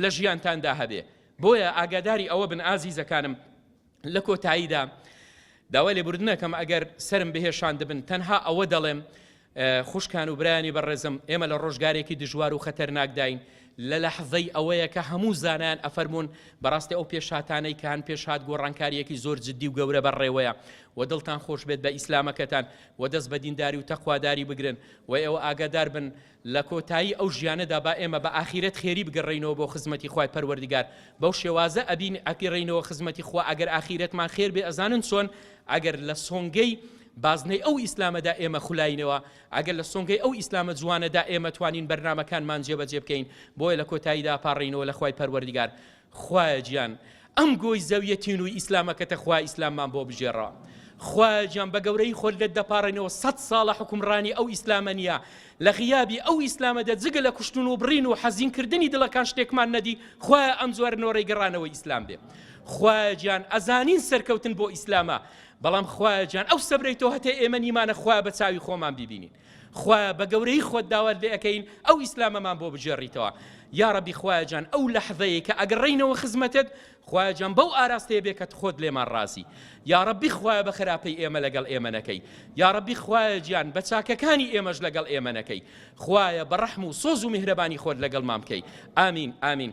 لە ژیانتاندا هەبێ بۆیە ئاگاداری ئەوە بن ئازیزەکانم لە کۆتاییدا داوای لێبوردنەکەم ئەگەر سرم بهێشان دەبن تەنها ئەوە دەڵێم خوشکان و برانی بەڕێزم ئێمە لە ڕۆژگارێکی دژوار و خەتەرناکداین لە لەحزەی ئەوەیە کە هەموو زانایان ئەفەرموون بەڕاستی ئەو پێشهاتانەی کە هەن پێشهات گۆڕانکاریەکی زۆر جدی و گەورە بە ڕێوەیە وە دڵتان خۆش بێت بە ئیسلامەکەتان وە دەست بە دینداری و تەقواداری بگرن وە ئێوە ئاگادار بن لە کۆتایی ئەو ژیانەدا با ئێمە بە ئاخیرەت خێری بگەڕێینەوە بۆ خزمەتی خوای پەروەردگار بەو شێوازە ئەبین ئەپیڕێینەوە خزمەتی خوا ئەگەر ئاخیرەتمان خێر بێ ئەزانن چۆن ئەگەر لە سۆنگەی بازنەی ئەو ئیسلامەدا ئێمە خولاینەوە ئەگەر لە سۆنگەی ئەو ئیسلامە جوانەدا ئێمە توانین بەرنامەکانمان جێبەجێ بکەین، بۆیە لە کۆتاییدا ئەپاڕێینەوە لە خوای پەروەردگار، خوایە گیان ئەم گۆی زەویە تینووی ئیسلامەکەتە خوایە ئیسلاممان بۆ بگێڕەوە. خوایە گیان بە گەورەیی خۆت لێت دەپاڕێنەوە سەد ساڵە حوکمڕانی ئەو ئیسلامە نیە، لە غیابی ئەو ئیسلامەدا جگە لە کوشتن و بڕین و حەزین کردنی دڵەکان شتێکمان نەدی، خوایە ئەم جۆرە نۆرەی گەڕانەوەی ئیسلام بێ خوایە گیان ئەزانین سەرکەوتن بۆ ئیسلامە، بەڵام خوایە جان ئەو سەبرەی تۆ هەتێ ئێمە نیمانە خوایە بە چاوی خۆمان بیبینین خوایە بە گەورەی خۆت داوات لێ ئەەکەین ئەو ئیسلامەمان بۆ بجێڕیتەوە یاڕەبی خوایە جان ئەو لەحظەیە کە ئەگەڕینەوە خزمەتت خوایە جان بەو ئاراستەیە بێ کە خۆت لێمان ڕازی یاڕەبی خوایە بە خراپەی ئێمە لەگەڵ ئێمەەکەی یاڕەبی خوایە گیان بە چاکەکانی ئێمەش لەگەڵ ئێمەەکەی خوایە بە ڕەحم و سۆز و میهرەبانی خۆت لەگەڵ مامکەی ئامین ئامین